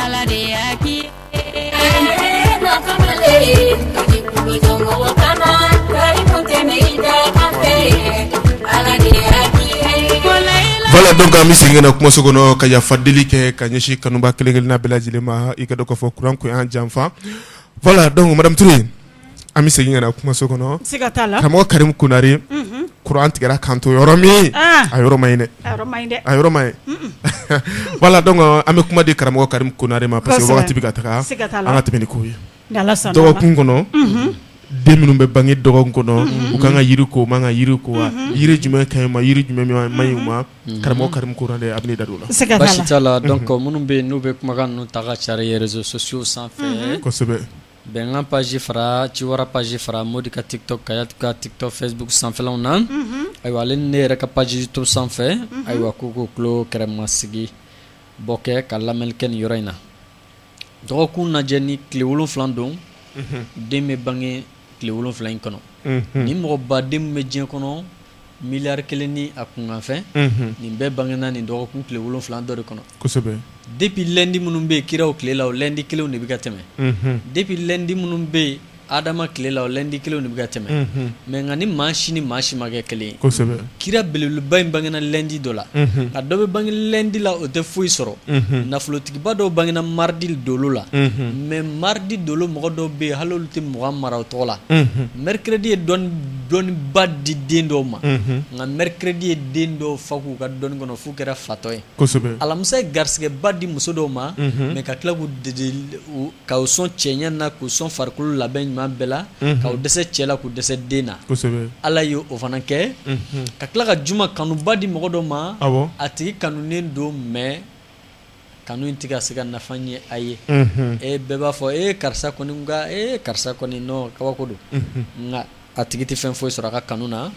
ala de y'a kɛ voilà donc an bɛ segin ka na kumaso kɔnɔ ka yafa deli kɛ ka ɲɛsin kanubaa kelen-kelenna bɛɛ lajɛlen ma i k'a dɔn k'a fɔ kuran ko y'an janfa voilà donc madame Touré an bɛ segin ka na kumaso kɔnɔ karamɔgɔ karim konare kuran tigɛra k'an to yɔrɔ min a yɔrɔ ma dɛ a yɔrɔ ma voilà donc an bɛ kuma di karamɔgɔ karim konare ma parce que waati bɛ ka taa an ka thème in ko ye dɔgɔkun kɔnɔ den minnu bɛ bange dɔgɔkun kɔnɔ u ka kan ka yiri ko u man kan ka yiri ko wa yiri jumɛn ka ɲi u ma yiri jumɛn man ɲi u ma karamɔgɔ karim konare a bɛ da la se la minnu bɛ yen n'u bɛ kumakan ta k'a cari réseaux sociaux sanfɛ kosɛbɛ Bɛnkan page fara ciwara page fara mɔdi ka tiktok kayat ka tiktok facebook sanfɛlaw na ayiwa ale ne yɛrɛ ka page youtube sanfɛ ayiwa ko k'u tulo kɛrɛ masigi bɔ kɛ ka lamɛnli kɛ ni yɔrɔ in na dɔgɔkun lajɛ ni tile wolonfila don den bɛ bange tile wolonfila in kɔnɔ ni mɔgɔ baden min bɛ diɲɛ kɔnɔ Milliard kelen ni a kunkanfɛn nin bɛɛ bangena nin dɔgɔkun tile wolonfila dɔ de kɔnɔ depuis lundi minnu bɛ kiraw tile la o lundi kelen de bɛ ka tɛmɛ depuis lundi minnu bɛ yen adama tile la o lundi kelen de bɛ ka tɛmɛ mais nka ni maa si ni maa si ma kɛ kelen kira belebeleba in bangena lundi dɔ la a dɔ bɛ bange lundi la o tɛ foyi sɔrɔ nafolotigiba dɔw bangena mardi dolo la mais mardi dolo mɔgɔ dɔw bɛ yen hali tɛ mɔgɔ mara o tɔgɔ la mercredi ye dɔn dɔnniba di den dɔw ma nka mercredi ye den dɔw fa k'u ka dɔnni kɔnɔ f'u kɛra fatɔ ye alamisa ye garisɛgɛba di muso dɔw ma mais ka tila k'u sɔn cɛɲa na k'u sɔn farikolo labɛn ɲuman bɛɛ la k'u dɛsɛ cɛ la k'u dɛsɛ den na ala y' o fana kɛ ka tila ka juma kanuba di mɔgɔ dɔ ma a tigi kanunen don mais kanu in tɛ ka se ka nafa ɲɛ a ye bɛɛ b'a fɔ e karisa kɔni e karisa kɔni kabako don nka a tigi tɛ fɛn foyi sɔrɔ a ka kanu na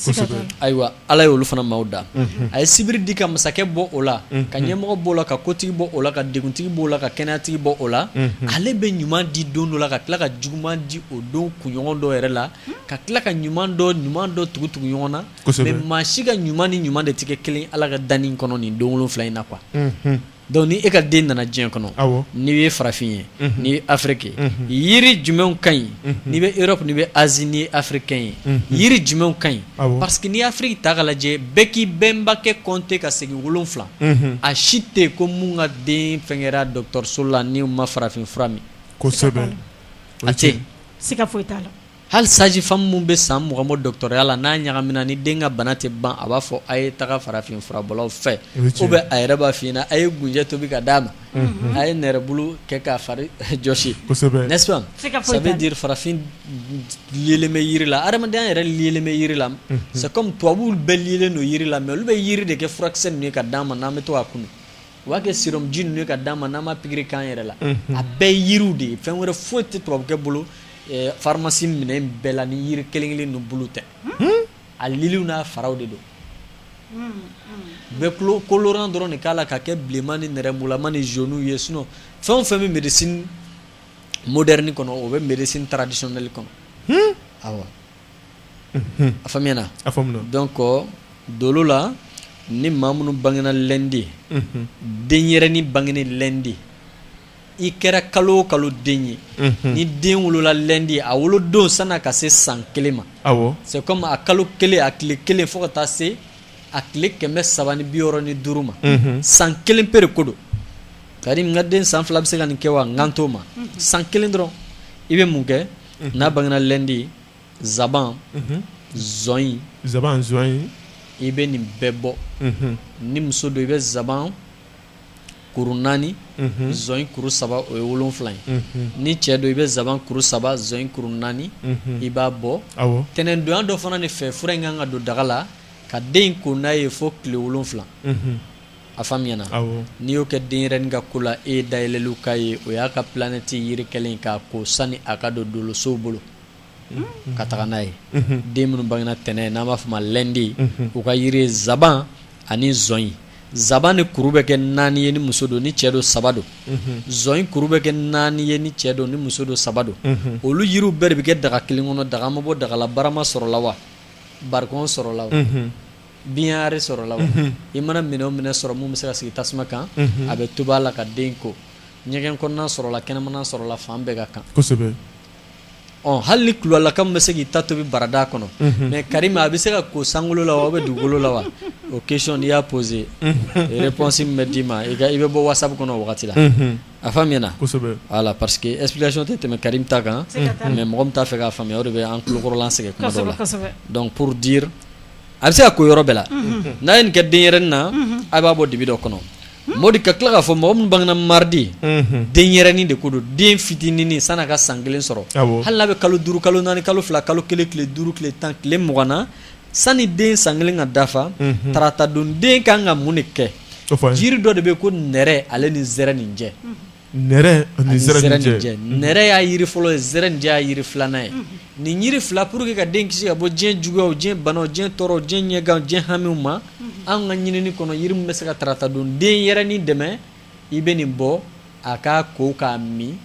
ayiwa ala y' olu fana maaw da a ye sibiri di ka masakɛ bɔ o la ka ɲɛmɔgɔ b'o la ka kotigi bɔ o la ka dugutigi b'o la ka kɛnɛyatigi bɔ o la ale bɛ ɲuman di don dɔ la ka tila ka juguman di o don kunɲɔgɔn dɔ yɛrɛ la ka tila ka ɲuman dɔ ɲuman dɔ tugu tugu ɲɔgɔn na mais maa si ka ɲuman ni ɲuman de tɛ kɛ kelen ala ka danni kɔnɔ ni don wolonfila in na quoi donc ni e ka den nana diɲɛ kɔnɔ n'i ye farafin ye n'i ye afirike ye yiri jumɛn ka ɲi n'i bɛ europe n'i bɛ asie n'i ye africain ye yiri jumɛn ka ɲi parce que ni afiriki ta ka lajɛ bɛɛ k'i bɛnbakɛ compter ka segin wolonfila a si tɛ yen ko minnu ka den fɛn kɛra dɔgɔtɔrɔso la n'u ma farafin fura min a tɛ se ka foyi t'a la Hali sage-femme minnu bɛ san mugan bɔ dɔtɔrɔya la n'a ɲagamina ni den ka bana tɛ ban a b'a fɔ a ye taga farafin furabɔlaw fɛ o bɛ a yɛrɛ b'a f'i ɲɛ na a ye gunjɛ tobi ka d'a ma a ye nɛrɛ bulu kɛ k'a fari jɔsi n'est-ce pas ça veut dire farafin lilen bɛ yiri la adamaden yɛrɛ lilen bɛ yiri la c'est comme tubabu bɛɛ lilen don yiri la mais olu bɛ yiri de kɛ furakisɛ nin ye ka d'an ma n'an bɛ to k'a kunu U b'a kɛ sérum ji ninnu ye ka d'an ma n'an b'a pikiri k'an yɛrɛ la, unhun, a bɛɛ ye yiriw de ye fɛn wɛrɛ foyi tɛ tubabukɛ bolo ɛ pharmacie minɛn in bɛɛ la ni yiri kelen kelen ninnu bulu tɛ, hunn, a liliw n'a faraw de don, un, u bɛ colorant dɔrɔn de k'a la ka kɛ bilenman ni nɛrɛmugulama ni jaunes ye sinon fɛn o fɛn bɛ médecine moderne kɔnɔ o bɛ médecine traditionnelle kɔnɔ, hunn, awɔ a faamuyana donc dolo la ni ma minnu bangena lundi denyɛrɛnin bangenen lundi i kɛra kalo o kalo den ye ni den wolola lundi a wolo don san'a ka se san kelen ma c'est comme a kalo kelen a tile kelen fo ka taa se a tile kɛmɛ saba ni bi wɔɔrɔ ni duuru ma san kelen pere ko don Karim n ka den san fila bɛ se ka nin kɛ wa n kan t'o ma san kelen dɔrɔn i bɛ mun kɛ n'a bangena lundi nsaban zɔnyi i bɛ nin bɛɛ bɔ ni muso don i bɛ nsaban kuru naani zɔnyi kuru saba o ye wolonfila ye ni cɛ don i bɛ nsaban kuru saba zɔnyi kuru naani i b'a bɔ tɛnɛndonya dɔ fana de fɛ fura in kan ka don daga la ka den ko n'a ye fo tile wolonfila a faamuyana n'i y'o kɛ denyɛrɛnin ka ko la e ye dayɛlɛli k'a ye o y'a ka planète yiri kɛlen k'a ko sani a ka don dolosow bolo ka taga n'a ye den minnu bangena tɛnɛn n'an b'a fɔ ma lundi u ka yiri ye nsaban ani zɔnyi nsaban ni kuru bɛ kɛ naani ye ni muso don ni cɛ don saba don zɔnyi kuru bɛ kɛ naani ye ni cɛ don ni muso don saba don olu yiriw bɛɛ de bɛ kɛ daga kelen kɔnɔ daga ma bɔ daga la barama sɔrɔla wa barikon sɔrɔla baignoire sɔrɔla i mana minɛn o minɛn sɔrɔ min bɛ se ka sigi tasuma kan a bɛ tobi a la ka den ko ɲɛgɛn kɔnɔna sɔrɔla kɛnɛmana sɔrɔla fan bɛɛ ka kan hali nilaka bɛ se k'i ta tobi barada kɔnɔ mais Karim a bɛ se ka ko sankolo la wa bɛ dugukolo la wa o question n'i y'a posé réponse min bɛ d'i ma i bɛ bɔ WhatsApp kɔnɔ o wagati la a faamuyana voilà parce que explication tɛ tɛmɛ Karim ta kan mais mɔgɔ min t'a fɛ k'a faamuya o de bɛ an kunkɔrɔla sɛgɛn kuma dɔw la donc pour dire a bɛ se ka ko yɔrɔ bɛɛ la n'a ye nin kɛ denyɛrɛnin na a b'a bɔ dibi dɔ kɔnɔ Modi ka tila k'a fɔ mɔgɔ minnu bangena mardi denyɛrɛnin de ko don den fitinin san'a ka san kelen sɔrɔ hali n'a bɛ kalo duuru kalo naani kalo fila kalo kelen tile duuru tile tan tile mugan na sanni den san kelen ka dafa tarata don den ka kan ka mun de kɛ jiri dɔ de bɛ ko nɛrɛ ale ni zɛrɛninjɛ y'a yiri fɔlɔ ye zɛrɛnin jɛ y'a yiri filanan ye nin yiri fila pour que ka den kisi ka bɔ diɲɛ juguyaw diɲɛ banaw diɲɛ tɔɔrɔw diɲɛ ɲɛganw diɲɛ hamiw ma an ka ɲinini kɔnɔ yiri min bɛ se ka tarata don denyɛrɛnin dɛmɛ i bɛ nin bɔ a k'a ko k'a min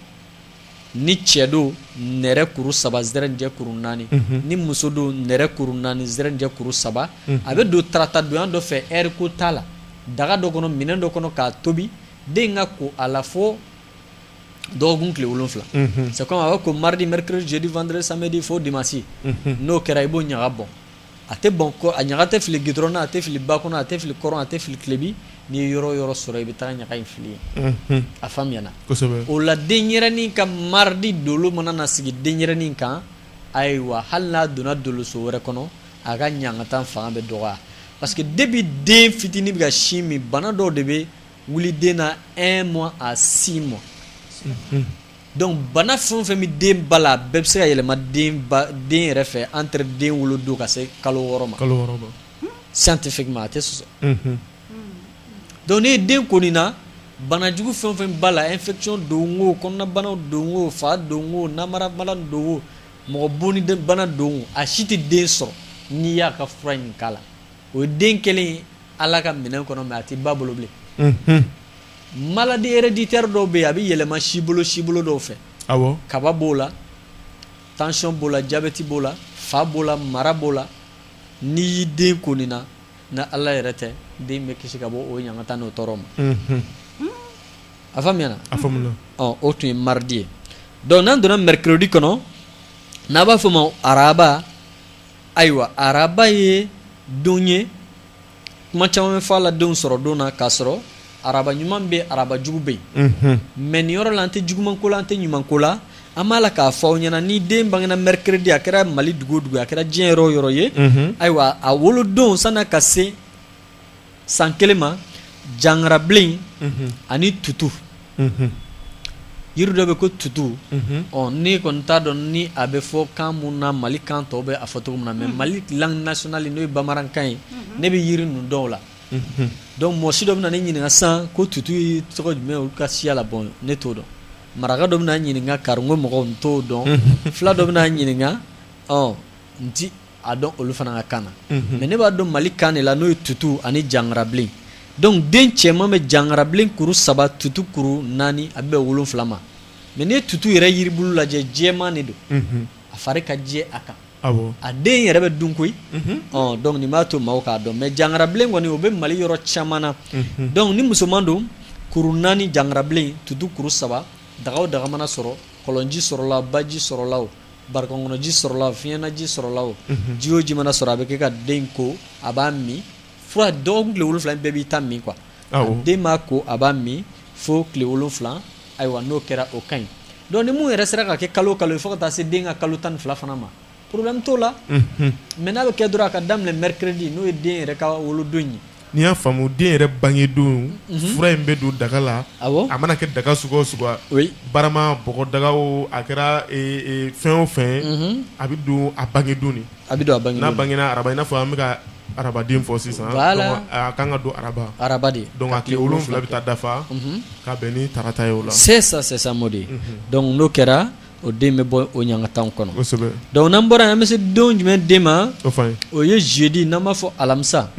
ni cɛ don nɛrɛ kuru saba zɛrɛnin jɛ kuru naani ni muso don nɛrɛ kuru naani zɛrɛnin jɛ kuru saba a bɛ don tarata don dɔ fɛ heure ko t'a la daga dɔ kɔnɔ minɛn dɔ kɔnɔ k'a tobi den ka ko a la fo dɔgɔkun tile wolonwula c'est comme a b'a ko mardi mercredi jeudi vendredi samedi fo dimanche n'o kɛra i b'o ɲaga bɔn a tɛ bɔn kɔ a ɲaga tɛ fili gidɔrɔn na a tɛ fili ba kɔnɔ a tɛ fili kɔrɔn a tɛ fili tilebi n'i ye yɔrɔ yɔrɔ sɔrɔ i bɛ taa ɲaga in fili yen a faamuyana o la denyɛrɛnin ka mardi dolo mana na sigi denyɛrɛnin kan ayiwa hali n'a donna doloso wɛrɛ kɔnɔ a ka ɲangata fanga bɛ dɔgɔya parce que depuis den fitinin bɛ ka sin min bana dɔw de bɛ wuli den na un mois à six mois donc bana fɛn o fɛn bɛ den ba la a bɛɛ bɛ se ka yɛlɛma den yɛrɛ fɛ entre den wolodon ka se kalo wɔɔrɔ ma scientifiquement a tɛ sɔsɔ donc n'i ye den ko nin na bana jugu fɛn o fɛn b'a la infection don o kɔnɔnabanaw don o fa don o namarabana don o mɔgɔ bonni bana don o a si tɛ den sɔrɔ n'i y'a ka fura in k'a la o ye den kelen ala ka minɛn kɔnɔ mais a tɛ ba bolo bilen maladie héréditaire dɔw bɛ yen a bɛ yɛlɛma si bolo si bolo dɔw fɛ kaba b'o la tension b'o la diabète b'o la fa b'o la mara b'o la n'i y'i den ko nin na n'ala yɛrɛ tɛ den bɛ kisi ka bɔ o ɲangata n'o tɔɔrɔ ma a faamuyana o tun ye mardi ye donc n'an donna mercredi kɔnɔ n'a b'a fɔ o ma araba Ayiwa araba ye don ye kuma caman bɛ fɔ a la denw sɔrɔ don na k'a sɔrɔ araba ɲuman bɛ araba jugu bɛ yen mais nin yɔrɔ la an tɛ juguman ko la an tɛ ɲuman ko la an b'a la k'a fɔ aw ɲɛna ni den bangena mercredi a kɛra mali dugu o dugu ye a kɛra diɲɛ yɔrɔ yɔrɔ ye ayiwa a wolo don san'a ka se san kelen ma jangarabilen ani tutu yiri dɔ bɛ ko tutu ɔ ne kɔni t'a dɔn ni a bɛ fɔ kan minnu na mali kan tɔw bɛ a fɔ cogo min na mais mali langue nationale n'o ye bamanankan ye ne bɛ yiri ninnu dɔn o la donc mɔsi dɔ bɛ na ne ɲininka sisan ko tutu ye tɔgɔ jumɛn olu ka siya la bon ne t'o dɔn maraka dɔ bɛ na ɲininka kariko mɔgɔ n t'o dɔn fula dɔ bɛ na ɲininka ɔ n a dɔn olu fana ka kan na mais ne b'a dɔn mali kan de la n'o ye tutu ani jangarabilen donc den cɛman bɛ jangarabilen kuru saba tutu kuru naani a bɛ wolonwula ma mais n'i ye tutu yɛrɛ yiribulu lajɛ jɛman de don a fari ka jɛ a kan a den yɛrɛ bɛ dun koyi donc nin b'a to maaw k'a dɔn mais jangarabilen kɔni o bɛ mali yɔrɔ caman na donc ni musoman don kuru naani jangarabilen tutu kuru saba daga o daga mana sɔrɔ kɔlɔnji sɔrɔla baji sɔrɔla Barikɔn kɔnɔji sɔrɔla o fiɲɛnaji sɔrɔla o ji o ji mana sɔrɔ a bɛ kɛ ka den ko a b'a min fo dɔgɔkun tile wolonwula bɛɛ b'i ta min quoi den b'a ko a b'a min fo tile wolonwula ayiwa n'o kɛra o ka ɲi donc ni mun yɛrɛ sera ka kɛ kalo kalo fo ka taa se den ka kalo tan ni fila fana ma problème t'o la mais n'a bɛ kɛ dɔrɔn a ka daminɛ mercredi n'o ye den yɛrɛ ka wolodon ye n'i y'a faamu den yɛrɛ bange don fura in bɛ don daga la a mana kɛ daga sugu o sugu barama bɔgɔ daga o a kɛra fɛn o fɛn a bɛ don a bange don de n'a bangena araba i n'a fɔ an bɛ ka arabaden fɔ sisan a ka kan ka don araba de donc a tile wolonwula bɛ taa dafa ka bɛn ni tarata ye o la c'est ça mardi donc n'o kɛra o den bɛ bɔ o ɲangataw kɔnɔ donc n'an bɔra yan an bɛ se don jumɛn den ma o ye jeudi n'an b'a fɔ alamisa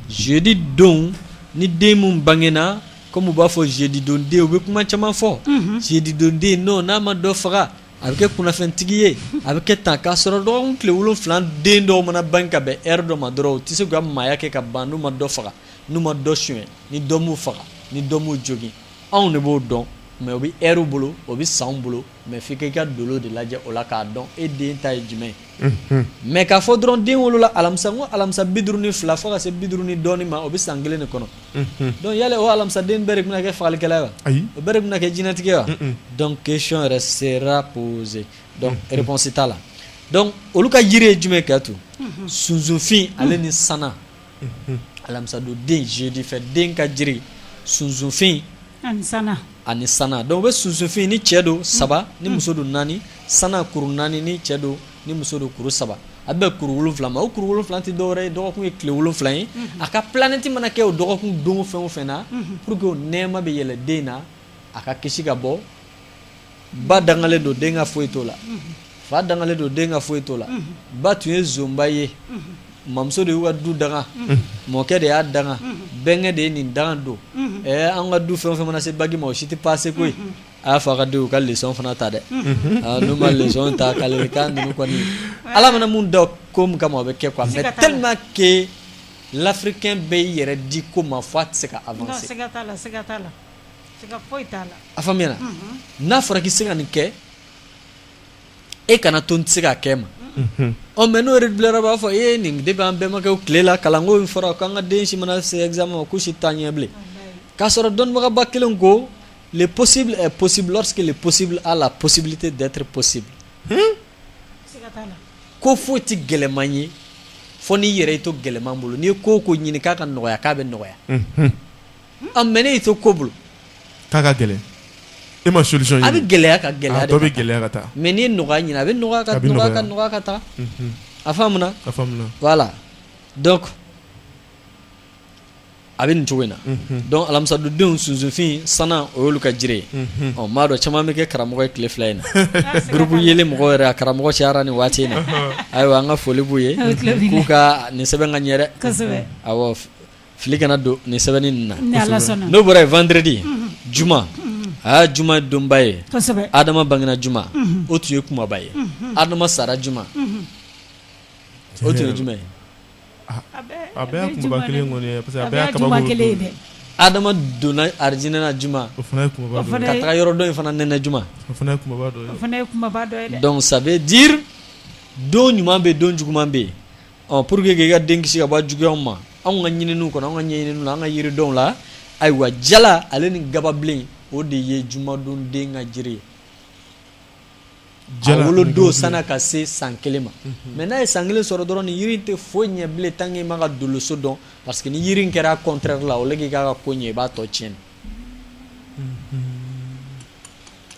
jeudi don ni den min bangena comme u b'a fɔ jeudi don den u bɛ kuma caman fɔ jeudi don den non n'a ma dɔ faga a bɛ kɛ kunnafɛntigi ye a bɛ kɛ tan k'a sɔrɔ dɔgɔkun tile wolonwula den dɔw mana bange ka bɛn heure dɔ ma dɔrɔn u tɛ se ka maaya kɛ ka ban n'u ma dɔ faga n'u ma dɔ suɲɛ ni dɔ m'u faga ni dɔ m'u jogin anw de b'o dɔn mais o bɛ heure bolo o bɛ sanw bolo mais f'i k'i ka dolo de lajɛ o la k'a dɔn e den ta ye jumɛn ye, unhun, mais k'a fɔ dɔrɔn den wolola alamisa n ko alamisa bi duuru ni fila fo ka se bi duuru ni dɔɔnin ma o bɛ san kelen de kɔnɔ, unhun, donc yala o alamisa den bɛɛ de bɛna kɛ fagalikɛla ye wa? Ayi, o bɛɛ de bɛna kɛ jinɛtigi ye wa? Un-un, donc question yɛrɛ sera posée donc réponse t'a la donc olu ka jiri ye jumɛn ye Kayatu? Unhun, sunsunfin ale ni sanan alamisadon den jeudi fɛ den ka jiri sunsunfin ani sanan donc o bɛ sunsunfin ni cɛ don saba ni muso don naani sanan kuru naani ni cɛ don ni muso don kuru saba a bɛ kuru wolonwula ma o kuru wolonwula tɛ dɔwɛrɛ ye dɔgɔkun ye tile wolonwula ye a ka planète mana kɛ o dɔgɔkun don fɛn o fɛn na pour que o nɛɛma bɛ yɛlɛ den na a ka kisi ka bɔ ba dangalen don den ka foyi t'o la fa dangalen don den ka foyi t'o la ba tun ye zonba ye mamuso de y'u ka du danga mɔkɛ de y'a danga bɛnkɛ de ye nin danga don ɛɛ an ka du fɛn o fɛn mana se bagi ma o si tɛ passer koyi a y'a fɔ a ka denw ka leçon fana ta dɛ n'u ma leçon ta k'ale k'a ninnu kɔni ala mana mun da ko min kama o bɛ kɛ quoi mais tellement que l'africain bɛ i yɛrɛ di ko ma fo a tɛ se ka avancer. a faamuya n'a fɔra k'i se ka nin kɛ e kana to n tɛ se k'a kɛ ma ɔ mais n'o bilara b'a fɔ e nin depuis an bɛnbakɛ tile la kalanko in fɔra k'an ka den si mana se examen ma ko si t'a ɲɛ bilen k'a sɔrɔ dɔnnibagaba kelen ko le possible est possible lorsque le possible a la possibilité d'être possible ko foyi tɛ gɛlɛman ye fo n'i yɛrɛ y'i to gɛlɛman bolo n'i ye ko o ko ɲini k'a ka nɔgɔya k'a bɛ nɔgɔya Mais n'e y'i to ko bolo k'a ka gɛlɛn e ma solution ɲini a bɛ gɛlɛya ka gɛlɛya bɛ gɛlɛya ka taa mais n'i ye nɔgɔya ɲini a bɛ nɔgɔya ka taa a faamuna voilà a bɛ nin cogo in na donc alamisadenw sunsunfin sana o y'olu ka jiri ye ɔ maa dɔn caman bɛ kɛ karamɔgɔ ye tile fila in na groupe yɛlɛn mɔgɔ yɛrɛ a karamɔgɔ cayara nin waati in na ayiwa an ka foli b'u ye k'u ka nin sɛbɛn ka ɲɛ dɛ fili kana don nin sɛbɛnni in na, n'o bɔra yen vendredi juma aa juma ye donba ye, Adama bangena juma o tun ye kumaba ye, Adama sara juma o tun ye jumɛn ye? a bɛɛ y'a kumaba kelen kɔni ye parce que a bɛɛ y'a kabako dɔ ye dɛ Adama donna arijinɛ na juma o fana ye kumaba dɔ ye ka taga yɔrɔ dɔ in fana nɛnɛ juma o fana ye kumaba dɔ ye donc ça veut dire don ɲuman bɛ yen don juguman bɛ yen pour que k'i ka den kisi ka bɔ juguya ma anw ka ɲininiw kɔnɔ an ka ɲininiw la an ka yiridenw la ayiwa jala ale ni gababilen o de ye jumadon den ka jiri ye a wolodon san'a ka se san kelen ma mais n'a ye san kelen sɔrɔ dɔrɔn nin yiri tɛ foyi ɲɛ bilen tant que i ma ka doloso dɔn parce que ni yiri in kɛra contraire la o k'i k'a ka ko ɲɛ i b'a tɔ tiɲɛ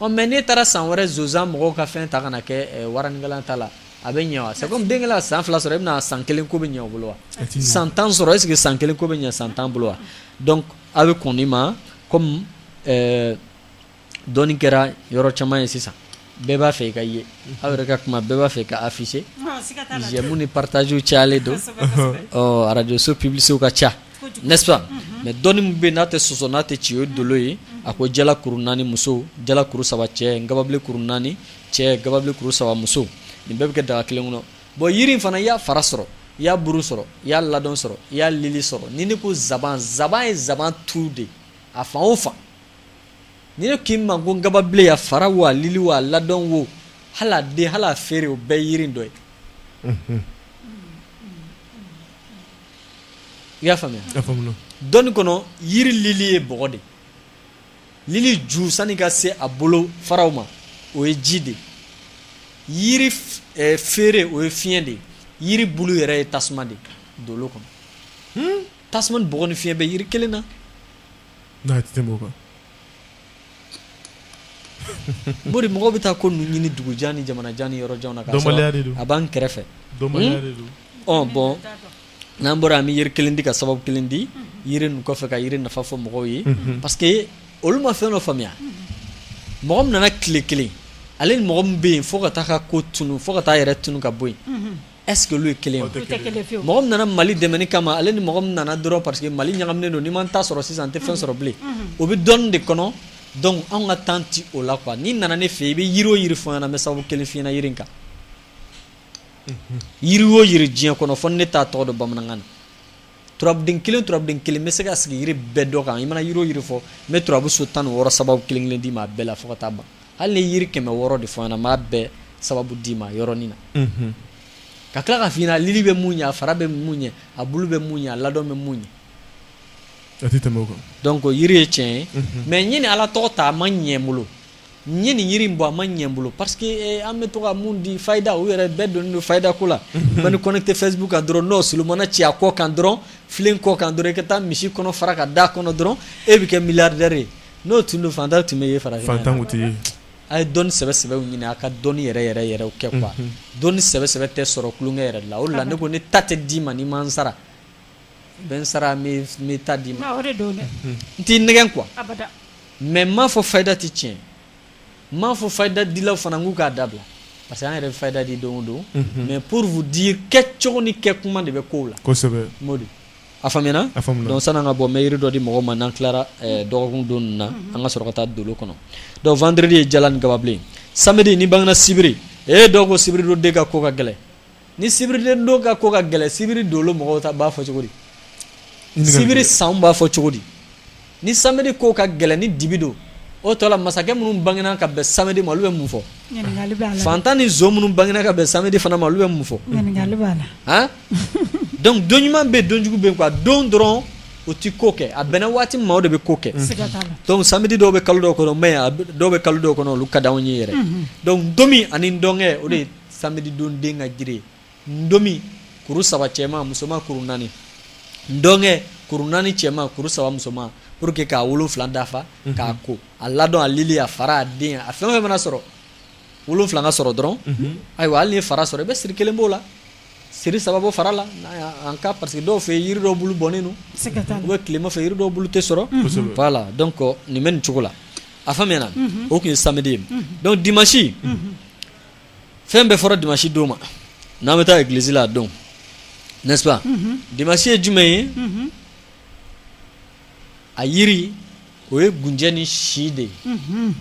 ɔ mais n'e taara san wɛrɛ zonzan mɔgɔw ka fɛn ta ka na kɛ waranikala ta la a bɛ ɲɛ wa c'est comme den kɛla san fila sɔrɔ e bɛna san kelen ko bɛ ɲɛ o bolo wa san tan sɔrɔ est ce que san kelen ko bɛ ɲɛ san tan bolo wa donc a bɛ kɔn nin ma comme dɔnni kɛra yɔrɔ caman ye sisan bɛɛ b'a fɛ i ka ye aw yɛrɛ ka kuma bɛɛ b'a fɛ i ka afficher j'aime ni partage cayalen don ɔ radio so publicité ka ca n'est-ce pas mais dɔnni min bɛ yen n'a tɛ sɔsɔ n'a tɛ ci o ye dolo ye a ko jala kuru naani muso jala kuru saba cɛ gababilen kuru naani cɛ gababilen kuru saba muso nin bɛɛ bɛ kɛ daga kelen kɔnɔ bon yiri in fana i y'a fara sɔrɔ i y'a buru sɔrɔ i y'a ladɔn sɔrɔ i y'a lili sɔrɔ ni ne ko zaban zaban ye zaban tu de a fan o fan ni ne k'i ma ko gababilen a fara wo a lili wo a ladɔn wo hali a den hali a feere o bɛɛ yiri dɔ ye i y'a faamuya dɔnni kɔnɔ yiri lili ye bɔgɔ de ye lili ju sani ka se a bolo faraw ma o ye ji de ye yiri eh, feere o ye fiɲɛ de ye yiri bulu yɛrɛ ye tasuma de ye dolo kɔnɔ hmm? tasuma ni bɔgɔ ni fiɲɛ bɛ yiri kelen na Mori mɔgɔ bɛ taa ko ninnu ɲini dugujan ni jamana jan ni yɔrɔ jan na a b'an kɛrɛfɛ bon n'an bɔra an bɛ yiri kelen di ka sababu kelen di yiri nin kɔfɛ ka yiri nafa fɔ mɔgɔw ye parce que olu ma fɛn dɔ faamuya mɔgɔ min nana tile kelen ale ni mɔgɔ min bɛ yen fo ka taa ka ko tunun fo ka taa yɛrɛ tunun ka bɔ yen est-ce que olu ye kelen ye mɔgɔ min nana mali dɛmɛni kama ale ni mɔgɔ min nana dɔrɔn parce que mali ɲagaminen don ni n ma n ta sɔrɔ sisan n tɛ fɛn sɔrɔ bilen o bɛ dɔnni de kɔnɔ donc anw ka temps tɛ o la quoi n'i nana ne fɛ i bɛ yiri o yiri fɔ n ɲɛna n bɛ sababu kelen f'i ɲɛna yiri kan yiri o yiri diɲɛ kɔnɔ fo ni ne t'a tɔgɔ dɔn bamanankan na turabuden kelen turabuden kelen n bɛ se ka sigi yiri bɛɛ dɔ kan i mana yiri o yiri fɔ n bɛ turabuso tan ni wɔɔrɔ sababu kelen kelen d'i ma a bɛɛ la fo ka taa ban hali ni yiri kɛmɛ wɔɔrɔ de fɔ n ɲɛna n b'a bɛɛ sababu d'i ma yɔrɔnin na ka tila ka f'i ɲɛna a lili bɛ mun ɲɛ a fara bɛ mun ɲɛ a bulu bɛ mun ɲɛ a ladɔn bɛ mun ɲɛ donc yiri ye tiɲɛ ye mais ɲini ala tɔgɔ ta a ma ɲɛ n bolo n ye nin yiri in bɔ a ma ɲɛ n bolo parce que eh, an bɛ to ka mun di fayida u yɛrɛ bɛɛ donnen don fayida ko la man'i connecté facebook kan dɔrɔn n'o solomana ci a kɔ kan dɔrɔn filen kɔ kan dɔrɔn i ka taa misi kɔnɔ fara ka da kɔnɔ dɔrɔn e bɛ kɛ milliardaire ye n'o tun don fantan tun bɛ ye farafin fantan tɛ ye a ye dɔnni sɛbɛ sɛbɛw ɲini a ka dɔnni yɛrɛ yɛrɛ yɛrɛw kɛ quoi dɔnni sɛbɛ sɛbɛ tɛ sɔrɔ kulonkɛ yɛrɛ la o de la ne ko ne ta tɛ d'i ma n'i ma n sara I bɛ n sara n bɛ n ta d'i ma n t'i nɛgɛn quoi mais n m'a fɔ fayida tɛ tiɲɛ n m'a fɔ fayida dilaw fana k'u k'a dabila parce que an yɛrɛ bɛ fayida di don o don mais pour vous dire kɛcogo ni kɛ kuma de bɛ ko la a faamuya san'an ka bɔ n bɛ yiri dɔ di mɔgɔw ma n'an tilara dɔgɔkun don ninnu na an ka sɔrɔ ka taa dolo kɔnɔ donc vendredi ye jala ni gababilen samedi n'i bangena sibiri e dɔw ko sibiri don den ka ko ka gɛlɛn ni sibiri den don ka ko ka gɛlɛ sibiri dolo mɔgɔw ta b'a fɔ cogo di sibiri san b'a fɔ cogo di ni samedi ko ka gɛlɛ ni dibi don o tɔ la masakɛ minnu bangena ka bɛn samedi ma olu bɛ mun fɔ fantan ni minnu bangena ka bɛn samedi fana ma olu bɛ mun fɔ don ɲuman bɛ yen don jugu bɛ yen quoi don dɔrɔn o tɛ ko kɛ a bɛnna waati min ma o de bɛ ko kɛ donc samedi dɔw bɛ kalo dɔw kɔnɔ mais dɔw bɛ kalo dɔw kɔnɔ olu ka di anw ye yɛrɛ donc don ani dɔnkɛ o de Samedi don den ka jiri ye ntomi kuru saba cɛmanma musoman kuru naani ndɔnkɛ kuru naani cɛmanma kuru saba musoman pour que k'a wolonwula dafa k'a ko a ladɔn a lili a fara a den a fɛn o fɛn mana sɔrɔ wolonwula ka sɔrɔ dɔrɔn ayiwa hali n'i ye fara sɔrɔ i bɛ siri kelen b'o la siri saba bɔ fara la en cas parce que dɔw fɛ yiri dɔw bulu bɔnnen don ou bien tilema fɛ yiri dɔw bulu tɛ sɔrɔ voilà donc nin bɛ nin cogo la a faamuyana o tun ye samedi ye donc dimanche fɛn bɛɛ fɔra dimanche don ma n'an bɛ taa église la a don n'est-ce pas mhm. dimanche ye jumɛn ye mhm. a yiri o ye gunjɛ ni si de ye mhm.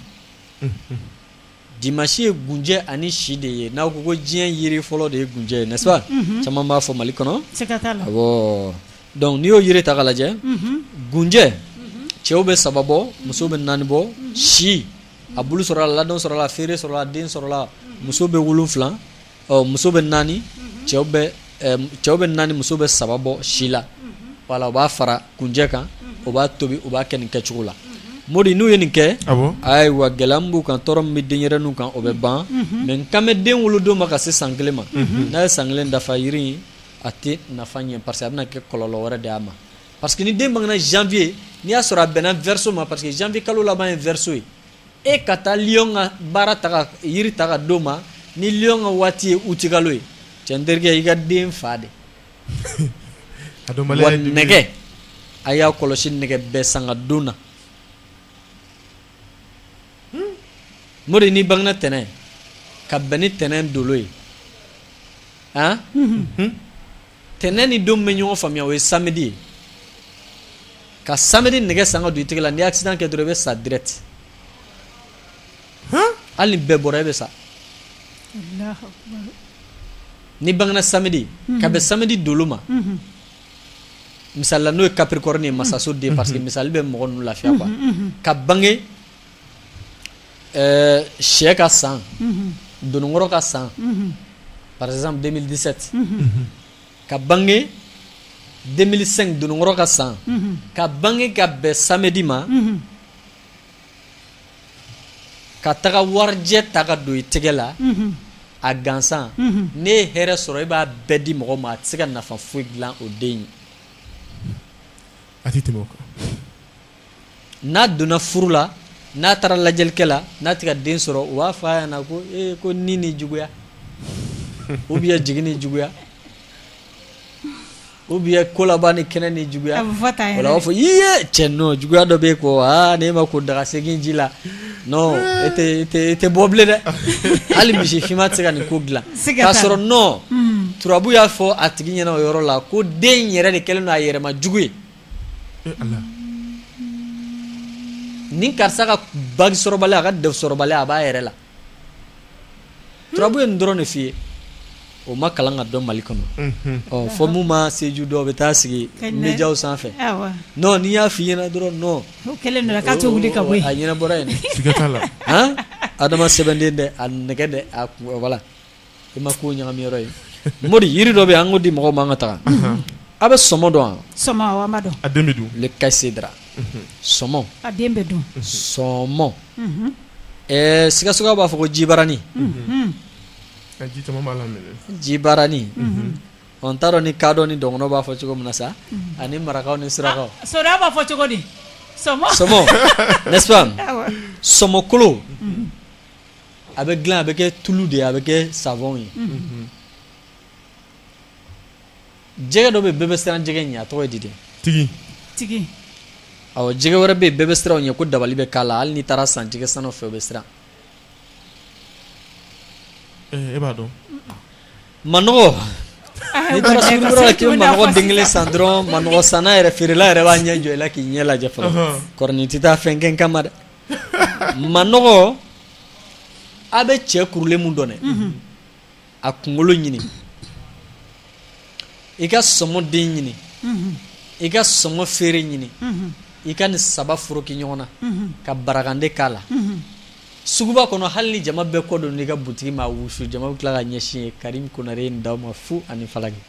dimanche ye gunjɛ ani si de ye n'aw ko ko diɲɛ yiri fɔlɔ de ye gunjɛ ye n'est-ce pas caman b'a fɔ Mali kɔnɔ awɔ donc n'i y'o yiri ta k'a lajɛ gunjɛ cɛw bɛ saba bɔ musow bɛ naani bɔ si a bulu sɔrɔla ladɔn sɔrɔla feere sɔrɔla den sɔrɔla muso bɛ wolonwula muso bɛ naani cɛw bɛ naani muso bɛ saba bɔ si la voilà o b'a fara gunjɛ kan o b'a tobi o b'a kɛ nin kɛcogo la Modi n'u ye nin kɛ ayiwa gɛlɛya min b'u kan tɔɔrɔ min bɛ denyɛrɛninw kan o bɛ ban mais n kan bɛ den wolodon ma ka se san kelen ma n'a ye san kelen dafa yiri in a tɛ nafa ɲɛ parce que a bɛna kɛ kɔlɔlɔ wɛrɛ de y'a ma Parce que ni den bangena janvier n'i y'a sɔrɔ a bɛnna verseau ma parce que janvier kalo laban ye verseau ye e ka taa lion ka baara ta ka yiri ta ka d'o ma ni lion ka waati ye août kalo ye cɛ n terikɛ i ka den fa de wa nɛgɛ a y'a kɔlɔsi nɛgɛ bɛɛ san ka don na Modi n'i bangena tɛnɛn ka bɛn ni tɛnɛn dolo ye han tɛnɛn ni don bɛ ɲɔgɔn faamuya o ye samedi ye ka samedi nɛgɛ san ka don i tɛgɛ la ni accident kɛ dɔrɔn i bɛ sa direct hali ni bɛɛ bɔra i bɛ sa n'i bangena samedi mhm. ka bɛn samedi dolo ma mhm. misali la n'o ye capricorne ye masaso den mhm. parce que misali bɛ mɔgɔ ninnu lafiya quoi ka bange Ɛɛ sɛ ka san dononkɔrɔ ka san par exemple deux mille dix-sept ka bange deux mille cinq dononkɔrɔ ka san ka bange ka bɛn samedi ma ka taga warijɛ ta ka don i tɛgɛ la a gansan n'e ye hɛrɛ sɔrɔ i b'a bɛɛ di mɔgɔ ma a tɛ se ka nafa foyi dilan o den ye a tɛ tɛmɛ kan n'a donna furu la n'a taara lajɛlikɛla n'a tɛ ka den sɔrɔ u b'a f'a ɲɛna ko ee ko ni ni juguya ou bien jigin ni juguya ou bien ko laban ni kɛnɛ ni juguya b'a fɔ i ye cɛ juguya dɔ bɛ ko aa ne ma ko daga segin ji la tɛ bɔ bilen dɛ hali misi finman tɛ se ka nin ko dilan k'a sɔrɔ non hmm. turabu y'a fɔ a tigi ɲɛna o yɔrɔ la ko den yɛrɛ de kɛlen don a yɛrɛma jugu ye ni karisa ka bagi sɔrɔbali a ka def sɔrɔbali a b'a yɛrɛ la turabu ye nin dɔrɔn de f' i ye o ma kalan ka dɔn mali kɔnɔ fɔ mun ma seju dɔ bɛ taa sigi médiaw sanfɛ n'i y'a fɔ i ɲɛna dɔrɔn a ɲɛnabɔra yen adama sɛbɛnden dɛ a nɛgɛ dɛ a voilà I ma ko ɲagami yɔrɔ ye mori yiri dɔ bɛ an k'o di mɔgɔw ma an ka taa a bɛ sɔmɔ dɔn wa le caïlcédrat sɔmɔ sɔmɔ ɛɛ sikasokaw b'a fɔ ko jibarani jibarani ɔ n t'a dɔn ni kadɔ ni dɔgɔnɔ b'a fɔ cogo min na sa ani marakaw ni surakaw so b'a fɔ cogo di sɔmɔ sɔmɔkolo a bɛ dilan a bɛ kɛ tulu de ye a bɛ kɛ savon ye jɛgɛ dɔ bɛ bɛɛ bɛ siran jɛgɛ ɲɛ a tɔgɔ ye di dɛ ntigin ntigin awɔ jɛgɛ wɛrɛ bɛ yen bɛɛ bɛ siran o ɲɛ ko dabali bɛ k'a la hali n'i taar'a san jɛgɛ sannaw fɛ u bɛ siran eh, e b'a dɔn manɔgɔ ah, n'i taara sugu la k'i bɛ manɔgɔ den kelen san dɔrɔn manɔgɔ sanna yɛrɛ feerela yɛrɛ b'a ɲɛ jɔ i la k'i ɲɛ lajɛ fɔlɔ kɔrɔnin tɛ taa fɛn kɛ n kama dɛ manɔgɔ a bɛ cɛ kurulen min dɔn a kunkolo ɲini i ka sɔmɔ den ɲini i ka sɔmɔ feere ɲini i ka nin saba foroki ɲɔgɔn na ka barakande k'a la suguba kɔnɔ hali ni jama bɛɛ kɔ don n'i ka butigi ma a wusu jama bɛ tila ka ɲɛsin ye karim konare ye nin d'aw ma fu ani falaki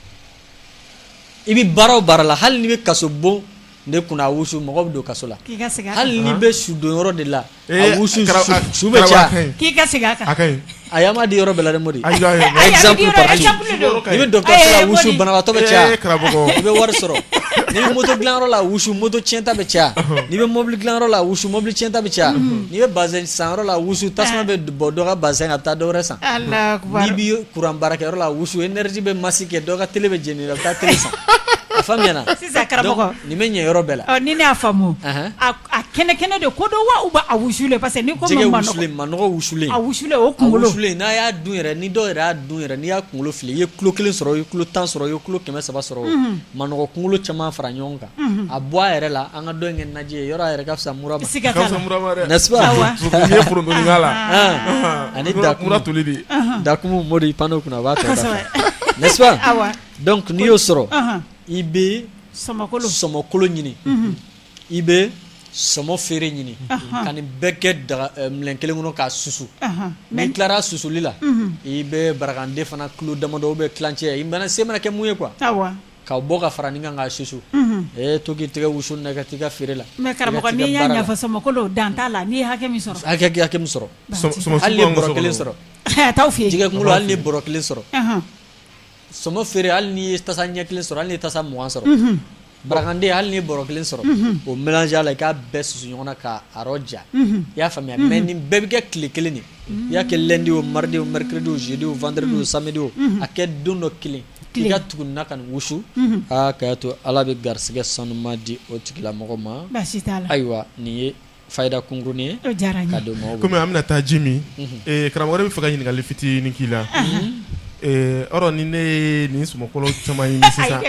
i bɛ baara o baara la hali n'i bɛ kaso bon ne kunna a wusu mɔgɔ bɛ don kaso la hali n'i bɛ su don yɔrɔ de la wusu su bɛ caya a y'a di yɔrɔ bɛɛ la mori n'i bɛ dɔgɔtɔrɔso la wusu banabaatɔ bɛ caya i bɛ wari sɔrɔ n'i bɛ moto dilanyɔrɔ la wusu moto cɛnta bɛ caya n'i bɛ mobili dilanyɔrɔ la wusu mobili cɛnta bɛ caya n'i bɛ bazɛn sanyɔrɔ la wusu tasuma bɛ bɔ dɔ ka bazɛn kan a bɛ taa dɔwɛrɛ san n'i bɛ kuran baarakɛyɔrɔ la wusu énergie bɛ masi kɛ dɔ ka tele bɛ jeni a bɛ taa tele san a fa Karamɔgɔ nin bɛ ɲɛ yɔrɔ bɛɛ la ni ne y'a faamu a kɛnɛ kɛnɛ de ko don wa ou bien a wusulen parce que ni ko manɔgɔ wusulen a wusulen o kunkolo n'a y'a dun yɛrɛ ni dɔw yɛrɛ y'a dun yɛrɛ n'i y'a kunkolo fili i ye kilo kelen sɔrɔ i ye kilo tan sɔrɔ i ye kilo kɛmɛ saba sɔrɔ manɔgɔ kunkolo caman fara ɲɔgɔn kan a bɔ a yɛrɛ la an ka dɔ in kɛ naji ye yɔrɔ a yɛrɛ ka fisa mura ma n'est-ce pas i ye forontonin k'a la ani mura toli de dakumu mori pan kunna a b'a tɔ dafa n'est-ce pas donc n'i y'o sɔrɔ i bɛ sɔmɔkolo ɲini i bɛ sɔmɔ feere ɲini ka nin bɛɛ kɛ minɛn kelen kɔnɔ k'a susu mais n'i tilara susuli la i bɛ barakande fana kilo damadɔ bɛ tilancɛ i mana se mana kɛ mun ye quoi ka bɔ ka fara nin kan k'a susu e to k'i tɛgɛ wusu na ka taa i ka feere la mais karamɔgɔ n'i y'a ɲɛfɔ sɔmɔkolo dan t'a la n'i ye hakɛ min sɔrɔ hakɛ min sɔrɔ hali ni bɔrɔ kelen sɔrɔ jɛgɛ kunkolo hali ni bɔrɔ kelen sɔrɔ Sɔmɔ feere hali n'i ye tasa ɲɛ kelen sɔrɔ hali n'i ye tasa mugan sɔrɔ barakande hali n'i ye bɔrɔ kelen sɔrɔ o mélanger a la i k'a bɛɛ susu ɲɔgɔn na k'a rɔja i y'a faamuya mais nin bɛɛ bɛ kɛ tile kelen de i y'a kɛ lundi o mardi o mercredi o jeudi o vendredi o samedi o a kɛ don dɔ kelen i ka tugu na ka nin wusu aa k'a to Ala bɛ garisɛgɛ sanuman di o tigilamɔgɔ ma ayiwa nin ye fayida kunkurunin ye komi an bɛna taa ji min karamɔgɔ ne b'a fɛ ka ɲininkali fitinin k'i la ɔrɔ ni ne ye nin sɔmɔkolo caman ɲini sisan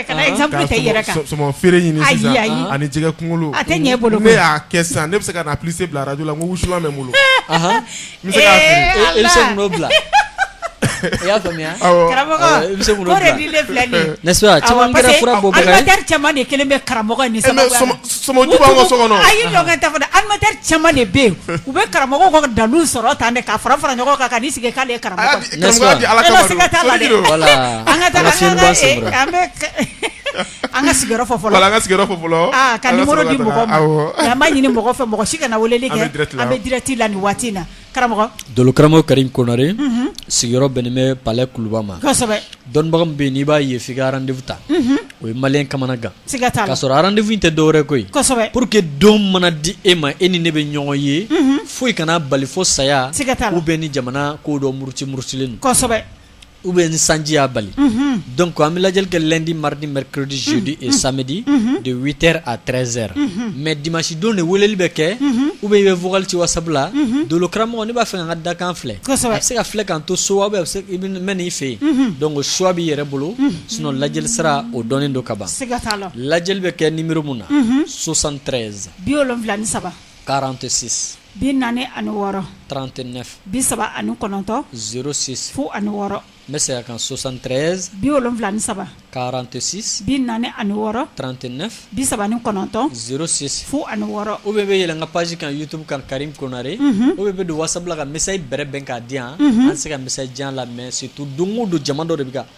ka sɔmɔ feere ɲini sisan ani jɛgɛ kunkolo a tɛ ɲɛ bolo ne y'a kɛ sisan ne bɛ se ka na publicité bila arajo la n ko wusulan bɛ n bolo N se bila i y'a faamuya karamɔgɔ de kelen bɛ karamɔgɔ de bɛ yen u bɛ karamɔgɔ dalu sɔrɔ tan ka fara fara ɲɔgɔn kan ka sigi k'ale karamɔgɔ An ka sigiyɔrɔ fɔ fɔlɔ, voilà an ka sigiyɔrɔ fɔ fɔlɔ, aa ka numéro di mɔgɔw ma, awɔ, mais an b'a ɲini mɔgɔ fɛ mɔgɔ si kana weleli kɛ, an bɛ direct la nin waati in na, karamɔgɔ, dolo karamɔgɔ Karimu Konare, unhun, sigiyɔrɔ bɛnnen bɛ palais kuluba ma, kosɛbɛ, dɔnnibaga min bɛ yen n'i b'a ye f'i ka rendez-vous ta, unhun, o ye maliyɛn kamanagan, siga t'a la, k'a sɔrɔ rendez-vous in tɛ dɔwɛrɛ ye koyi, kosɛbɛ, pour que don mana di e ma e ni ne bɛ ɲɔgɔn ye, unhun, foyi kan'a bali fo saya, siga t'a la, ou bien ni jamana ko dɔ muruti murutilen don, kosɛbɛ u bɛ ni sanjiya bali dɔn ko an bɛ lajɛli kɛ di maridi mridiodi ye sadi de vtr a trɛnzɛr mɛ di masidon de weleli bɛ kɛ u bɛ ye fugti wa sabula donkaramɔgɔ ne b'a fɛ ka dakan filɛ a bɛ se ka filɛ ka to so aw bɛ se i mɛn ii fɛ yen don ko suwa b'i yɛrɛ bolo sun lajɛli sira o dɔn don kaban lajɛli bɛ kɛ nibrimu na sosantreyz bi wolonwula ni saba karan tɛ sisan bi naani ani wɔɔrɔ trente-neuf bi saba ani kɔnɔntɔn zéro six fu ani wɔɔrɔ n bɛ segin a kan soixante-treize bi wolonwula ni saba quarante-six bi naani ani wɔɔrɔ trente-neuf bi saba ni kɔnɔntɔn zéro six fu ani wɔɔrɔ ou bien bɛ yɛlɛn n ka page kan YouTube kan karimu konare ou bien bɛ don WhatsApp la ka message bref bɛn k'a di yan an se ka message jan lamɛn surtout don o don jama dɔ de bɛ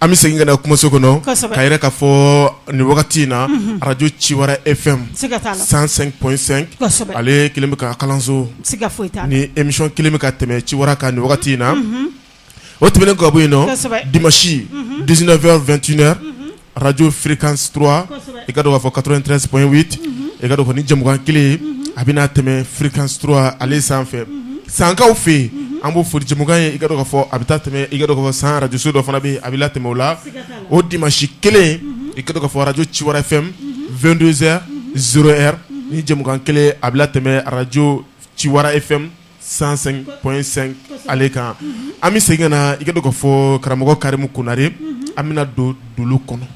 an bɛ segin ka kumaso kɔnɔ ka yɛrɛ ka fɔ nin wagati in na araj ci wɛrɛ e fɛn san ale kelen ka kalanso ni emi kelen bɛ ka tɛmɛ ci wɛrɛ ka nin wagati in na o tɛmɛn ga bɔ yen dimisi dfɛn2ɛ arajo filikan i ka b'a fɔ kato in tɛp i ka ni jamukan kelen a bɛna n'a tɛmɛ filikan ale sanfɛ sankaw fɛ yen an b'o foli jɛmukan ye i k'a dɔn k'a fɔ a bɛ taa tɛmɛ i k'a dɔn k'a fɔ San arajoso dɔ fana bɛ yen a bɛ latɛmɛ o la o dimanche kelen i k'a dɔn k'a fɔ arajo Ciwara FM vingt-deux heures zéro heure nin jɛmukan kelen a bɛ latɛmɛ arajo Ciwara FM cent cinq point cinq ale kan an bɛ segin ka na i k'a dɔn k'a fɔ karamɔgɔ karimu konare an bɛna don dolo kɔnɔ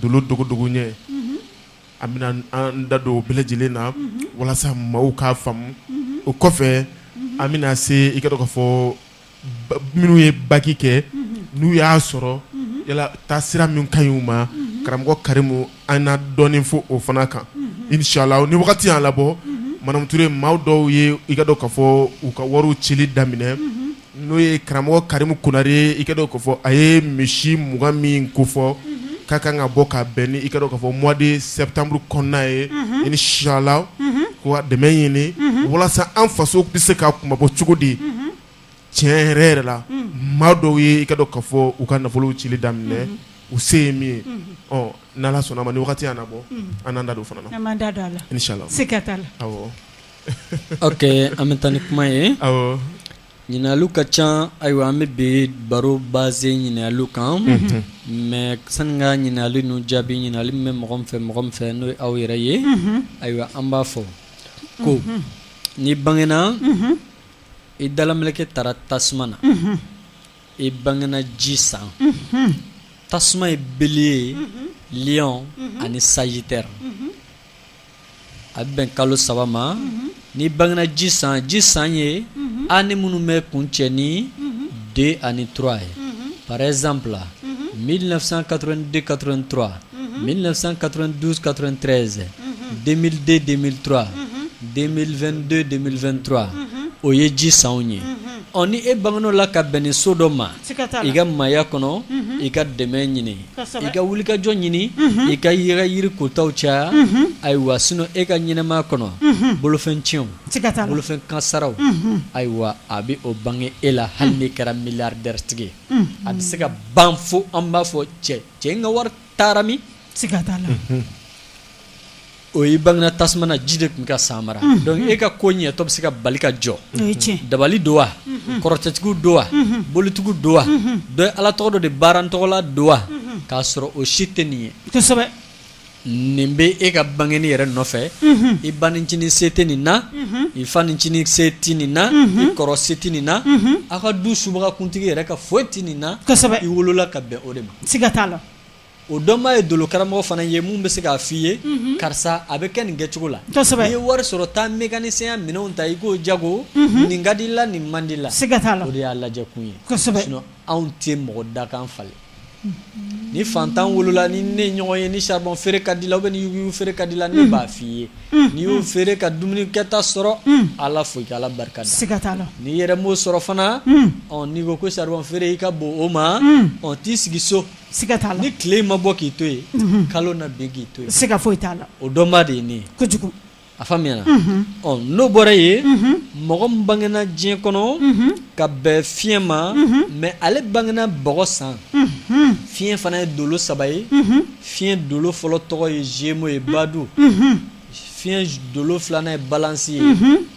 dolo dogodogo ɲɛ An bɛna an da don bɛɛ lajɛlen na walasa maaw k'a faamu o kɔfɛ an bɛna se i k'a dɔn k'a fɔ minnu ye baki kɛ n'u y'a sɔrɔ yala taa sira min ka ɲi u ma karamɔgɔ karimu an na dɔɔnin fɔ o fana kan inshallah ni wagati y'an labɔ madamu Ture maaw dɔw ye i k'a dɔn k'a fɔ u ka wariw cili daminɛ N'o ye karamɔgɔ karimu konare i k'a dɔn k'a fɔ a ye misi mugan min ko fɔ ka kan ka bɔ ka bɛn ni i k'a dɔn k'a fɔ mois de septembre kɔnɔna ye inshallah ko dɛmɛ ɲini walasa an faso bɛ se ka kunmabɔ cogo di tiɲɛ yɛrɛ yɛrɛ la maa dɔw ye i k'a dɔn k'a fɔ u ka nafolow cili daminɛ u se ye min ye n'Ala sɔnna a ma ni wagati y'an labɔ an n'an da don o fana Ok an bɛ taa ni kuma ye ɲininkaliw ka ca ayiwa an bɛ bi baro base ɲininkaliw kan mais sani ka ɲininkali ninnu jaabi ɲininkali min bɛ mɔgɔ min fɛ mɔgɔ min fɛ n'o ye aw yɛrɛ ye ayiwa an b'a fɔ ko n'i bangena i dalamɛlɛkɛ taara tasuma na i bangena ji san tasuma ye bélier lion ani sagittaire a bɛ bɛn kalo saba ma ni bangegna ji san ji san ye an ni minnu bɛ kun cɛ ni den ani tura ye paresan bila mi na kadentura mi na kadukatorezden dentura den2denfɛntura o ye ji san ye ɔ ni e bangen la ka bɛn ni so dɔ ma I ka maaya kɔnɔ i ka dɛmɛ ɲini i ka wulikajɔ ɲini i ka yɛrɛ yiri kotaw caya ayiwa sinɔn e ka ɲɛnɛmaya kɔnɔ bolofɛn tiɲɛw bolofɛn kansaraw ayiwa a bɛ o bange e la hali n'i kɛra miliyaridɛri tigi ye a bɛ se ka ban fo an b'a fɔ cɛ cɛ in ka wari taara min ka la O ye bangena tasuma na ji de tun ka san mara dɔnku e ka ko ɲɛtɔ bɛ se ka bali ka jɔ dabali don wa kɔrɔtɛtigiw don wa bolitigiw don wa dɔ ye ala tɔgɔ dɔ de baara tɔgɔ la don wa k'a sɔrɔ o si tɛ nin ye nin bɛ e ka bangeni yɛrɛ nɔfɛ i bancinin se tɛ nin na i fancinin se tɛ nin na i kɔrɔ se tɛ nin na aw ka du subaga kuntigi yɛrɛ ka foyi tɛ nin na i wolola ka bɛn o de ma o dɔnbaa ye dolokaramɔgɔ fana ye min bɛ se k'a fɔ i ye karisa a bɛ kɛ nin kɛcogo la n'i ye wari sɔrɔ taa mekanisiyɛnya minɛnw ta i k'o jago nin ka di la nin man di la siga t'a la o de y'a lajɛ kun ye anw tɛ mɔgɔ dakan falen ni fantan wolola ni ne ɲɔgɔn ye ni saribɔn feere ka di la ou bien ni yuguyugu feere ka di la n b'a f'i ye n'i y'o feere ka dumunikɛta sɔrɔ ala fo i ka ala barika da siga t'a la n'i yɛrɛ m'o sɔrɔ fana n'i ko ko saribɔn feere i ka bon o ma t'i sigi so Siga t'a la ni tile in ma bɔ k'i to yen unhun kalo na bin k'i to yen siga foyi t'a la o dɔnbaa de ye ne ye kojugu a faamuyana unhun ɔ n'o bɔra yen unhun mɔgɔ min bangena diɲɛ kɔnɔ unhun ka bɛn fiɲɛ ma unhun mais ale bangena bɔgɔ san unhun fiɲɛ fana ye dolo saba ye unhun fiɲɛ dolo fɔlɔ tɔgɔ ye zemo ye badu unhun fiɲɛ dolo filanan ye balansi ye unhun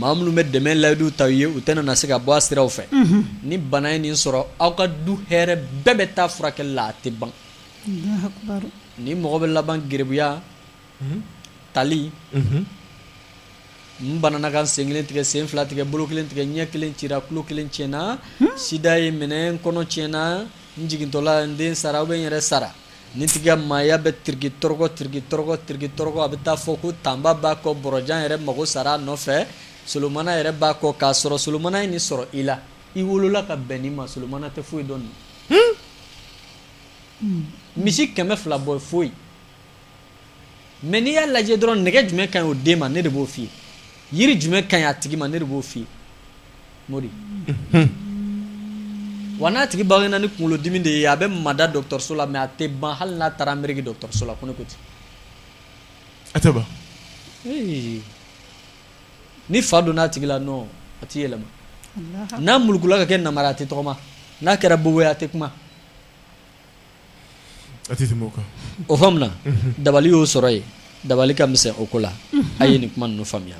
Maa minnu bɛ dɛmɛ layidu t'a ye u tɛna na se ka bɔ a siraw fɛ ni bana ye nin sɔrɔ aw ka du hɛrɛ bɛɛ bɛ taa furakɛ la a tɛ ban nin mɔgɔ bɛ laban gerebuya tali n banana ka n sen kelen tigɛ sen fila tigɛ bolo kelen tigɛ ɲɛ kelen cira tulo kelen tiɲɛna sida ye n minɛ n kɔnɔ tiɲɛna n jigintɔla n den sara ou bien n yɛrɛ sara Nin tigi maaya bɛ tirikitɔrɔgɔ tirikitɔrɔgɔ tirikitɔrɔgɔ a bɛ t'a fɔ ko tanba b'a kɔ bɔrɔjan yɛrɛ mago sara a nɔfɛ solomana yɛrɛ b'a kɔ k'a sɔrɔ solomana ye nin sɔrɔ i la i wolola ka bɛn nin ma solomana tɛ foyi dɔn misi kɛmɛ fila bɔ foyi mɛ n'i y'a lajɛ dɔrɔn nɛgɛ jumɛn ka ɲi o den ma ne de b'o f'i ye yiri jumɛn ka ɲi a tigi ma ne de b'o f'i ye mori wa n'a tigi bangena ni kunkolodimi de ye a bɛ mada dɔgɔtɔrɔso la mɛ a tɛ ban hali n'a taara ameriki dɔgɔtɔrɔso la ko ne ko ten a tɛ ban ni fa donna a tigi la nɔ a tɛ yɛlɛma n'a mulukula ka kɛ namara a tɛ tɔgɔma n'a kɛra bobo ye a tɛ kuma o faamuna dabali y'o sɔrɔ ye dabali ka misɛn o ko la a ye nin kuma ninnu faamuya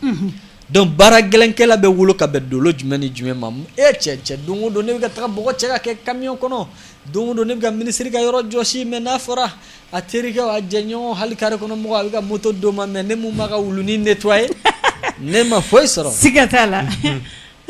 donc baara gɛlɛnkɛla bɛ wolo ka bɛn dolo jumɛn ni jumɛn ma e cɛ cɛ don o don ne bɛ ka taga bɔgɔ cɛ ka kɛ camion kɔnɔ don o don ne bɛ ka minisiri ka yɔrɔ jɔsi mais n'a fɔra a terikɛw a jɛɲɔgɔn hali kare kɔnɔ mɔgɔ a bɛ ka moto d'o ma mais ne min b'a ka wuluni nettoyer ne ma foyi sɔrɔ siga t'a la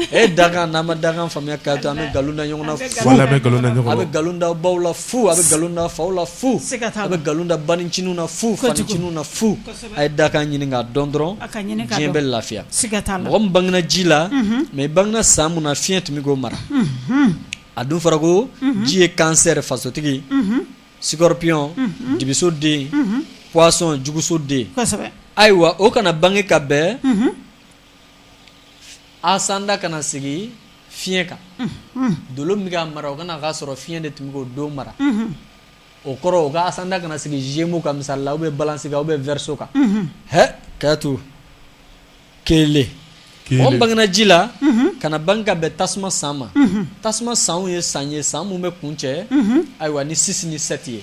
e dakan n'a ma dakan faamuya k'a to an bɛ nkalon da ɲɔgɔn na fu, voilà an bɛ nkalon da ɲɔgɔn na, a bɛ nkalon da baw la fu, a bɛ nkalon da faw la fu, siga t'a la, a bɛ nkalon da banincininw na fu, fanincininw na fu, kosɛbɛ, a ye dakan ɲini k'a dɔn dɔrɔn, a ka ɲini k'a dɔn, diɲɛ bɛ lafiya, siga t'a la, mɔgɔ min bangena ji la, unhun, mais i bangena san min na fiɲɛ tun bɛ k'o mara, unhun, a dun fɔra ko mhm. ji ye cancer fasotigi, unhun, scorpion, mhm. dibiso den, unhun, poisson juguso den, kosɛbɛ, ayiwa o kana bange ka bɛn, unhun ascendant kana sigi fiɲɛ kan dolo min k'a mara o kana k'a sɔrɔ fiɲɛ de tun bɛ k'o don mara o kɔrɔ o ka ascendant kana sigi gémeaux kan misali la ou bien balance kan ou bien verseau kan hɛn k'a to kelen mɔgɔ bangena ji la kana bange ka bɛn tasuma san ma tasuma sanw ye san ye san minnu bɛ kuncɛ ayiwa ni six ni sept ye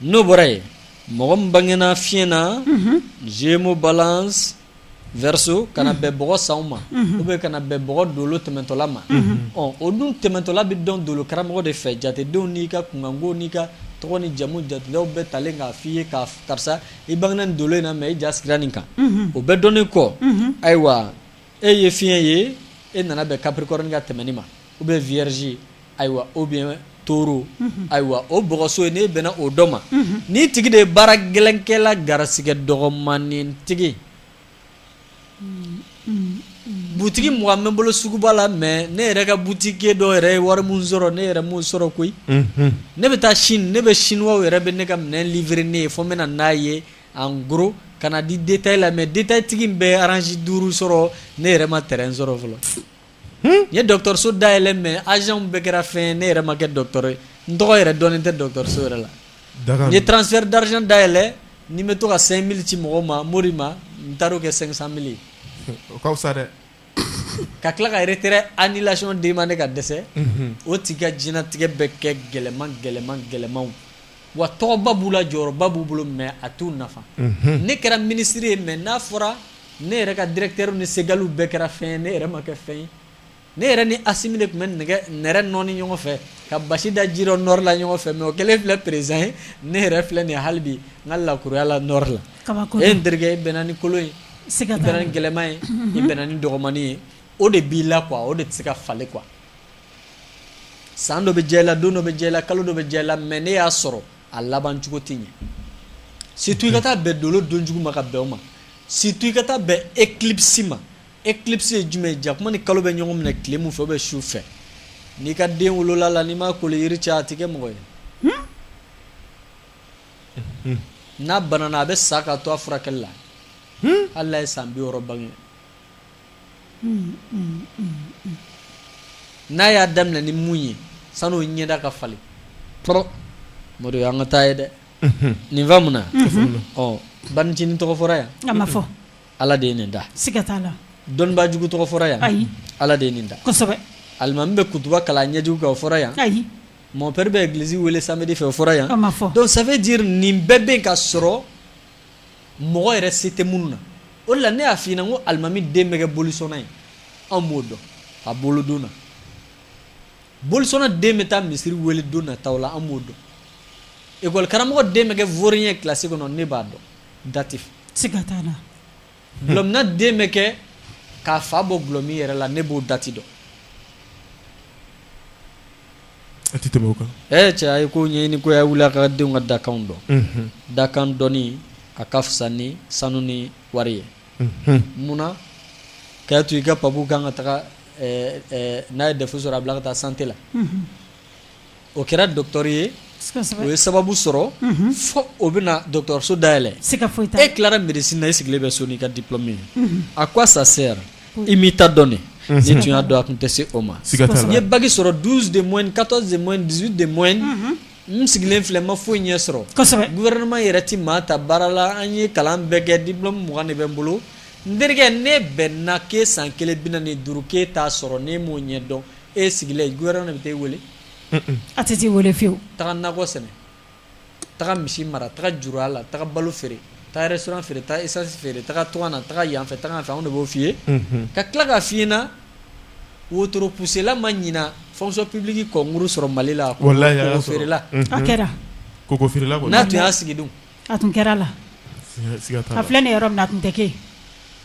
n'o bɔra yen mɔgɔ min bangena fiɲɛ na gémeaux balance verseau kana bɛn bɔgɔ sanw ma ou bien kana bɛn bɔgɔ dolo tɛmɛtɔla ma ɔ o dun tɛmɛtɔla bɛ dɔn dolo karamɔgɔ de fɛ jatedenw n'i ka kunkanko n'i ka tɔgɔ ni jamu jatedaw bɛɛ talen k'a f'i ye ka karisa i bangena nin dolo in na mais i ja sigira nin kan o bɛɛ dɔnnen kɔ ayiwa e ye fiɲɛ ye e nana bɛn capricorne ka tɛmɛni ma ou bien vierge ayiwa ou bien taureau ayiwa o bɔgɔso ye n'e bɛnna o dɔ ma ni tigi de ye baara gɛlɛnkɛla garisɛgɛ dɔgɔmanin tigi butigi mugan bɛ n bolo suguba la mais ne yɛrɛ ka boutiquier dɔ yɛrɛ ye wari min sɔrɔ ne yɛrɛ m'o sɔrɔ koyi ne bɛ taa Chine ne bɛ chinois yɛrɛ bɛ ne ka minɛn livrer ne ye fo n bɛ na n'a ye en gros ka n'a di détail la mais détail tigi min bɛ orange 5 sɔrɔ ne yɛrɛ ma terrain sɔrɔ fɔlɔ, n ye dɔgɔtɔrɔso dayɛlɛ mais agent bɛɛ kɛra fɛn ye ne yɛrɛ ma kɛ dɔgɔtɔrɔ ye, n tɔgɔ yɛrɛ dɔnnen tɛ dɔgɔtɔrɔso yɛrɛ la, n ye transfert d'argent dayɛlɛ ni n bɛ to ka 5000 ci mɔgɔw ma Mori ma n taar'o kɛ 500000 ye, o ka fisa dɛ, ka tila ka retrait annulation demander ka dɛsɛ, unhun, o tigi ka diɲɛlatigɛ bɛ kɛ gɛlɛman gɛlɛman gɛlɛmanw wa tɔgɔba b'u la jɔyɔrɔba b'u bolo mais a t'u nafa ne kɛra minisiri ye mais n'a fɔra ne yɛrɛ ka directeur ni segaliw bɛɛ kɛra fɛn ye ne yɛrɛ ma kɛ fɛn ye ne yɛrɛ ni Assimi de tun bɛ nɛgɛ nɛrɛ nɔɔni ɲɔgɔn fɛ ka basi da ji dɔ nord la ɲɔgɔn fɛ mais o kɛlen filɛ président ye ne yɛrɛ filɛ nin halibi n ka lakuruya la nord la e n terikɛ e bɛnna ni kolon ye i bɛnna ni gɛlɛman ye i bɛnna ni dɔgɔmannin ye o de b'i la quoi o de tɛ se ka falen quoi san dɔ bɛ diya i la don dɔ bɛ diya i la kalo dɔ bɛ diya i la mais ne y'a sɔrɔ a laban cogo tɛ ɲɛ surtout i ka taa bɛn dolo don jugu ma ka bɛn o ma surtout i ka taa bɛn éclipse ma éclipse ye jumɛn ye jakuma ni kalo bɛ ɲɔgɔn minɛ tile min fɛ ou bien su fɛ n'i ka den wolola la n'i ma kolo yiri cɛ a tɛ kɛ mɔgɔ ye n'a banana a bɛ sa ka to a furakɛli la hali n'a ye san bi wɔɔrɔ bange n'a y'a daminɛ ni mun ye san'o ɲɛda ka falen mori an ka taa ye dɛ nin faamuna ɔ bancinin tɔgɔ fɔra yan a ma fɔ ala de ye nin da siga t'a la dɔnnibaa jugu tɔgɔ fɔra yan ayi ala de ye nin da kosɛbɛ alimami bɛ kutuba kalan ɲɛjugu kan o fɔra yan ayi mon père bɛ église weele samedi fɛ o fɔra yan a ma fɔ donc ça veut dire nin bɛɛ bɛ ka sɔrɔ mɔgɔ yɛrɛ se tɛ minnu na o de la ne y'a f'i ɲɛna ko alimami den bɛ kɛ bolisɔnna ye anw b'o dɔn a wolodon na bolisɔnna den bɛ taa misiri wele don nataw la an b'o dɔn ekɔli karamɔgɔ den bɛ kɛ vaurien ye kilasi kɔnɔ ne b'a dɔn dati fɛ siga t'a la Dulɔminna den bɛ kɛ k'a fa bɔ dulɔmin yɛrɛ la ne b'o dati dɔn a tɛ tɛmɛ o kan ee cɛ a ye ko ɲɛɲini koyi a wili a ka denw ka dakan dɔn dakan dɔnni a ka fisa ni sanu ni wari ye munna k'a to i ka papu kan ka taga n'a ye defu sɔrɔ a bila ka taa santé la o kɛra docteur ye o ye sababu sɔrɔ fo o bɛna dɔgɔtɔrɔso dayɛlɛn e tilara médecine na e sigilen bɛ so n'i ka diplôme ye à quoi ça sert i m'i ta dɔn de n'i tun y'a dɔn a tun tɛ se o ma n ye bac sɔrɔ 12 de moyenne 14 de moyenne 18 de moyenne n sigilen filɛ n ma foyi ɲɛ sɔrɔ gouvernement yɛrɛ tɛ maa ta baara la an ye kalan bɛɛ kɛ diplôme 20 de bɛ n bolo n terikɛ ne bɛnna k'e san kelen bi naani ni duuru k'e t'a sɔrɔ n'e m'o ɲɛdɔn e sigilen gouvernement de bɛ t'e weele a tɛ t'i weele fiyewu taa nakɔ sɛnɛ taga misi mara taga juru a la taga balo feere taa restaurant feere taa essence feere taga tunga na taga yan fɛ taga yan fɛ anw de b'o f'i ye ka tila k'a f'i ɲɛna wotoro pusela ma ɲina fonction publique concours sɔrɔ mali la koko feerela a kɛra koko feerela n'a tun y'a sigi a tun kɛra la a filɛ nin yɔrɔ min na a tun tɛ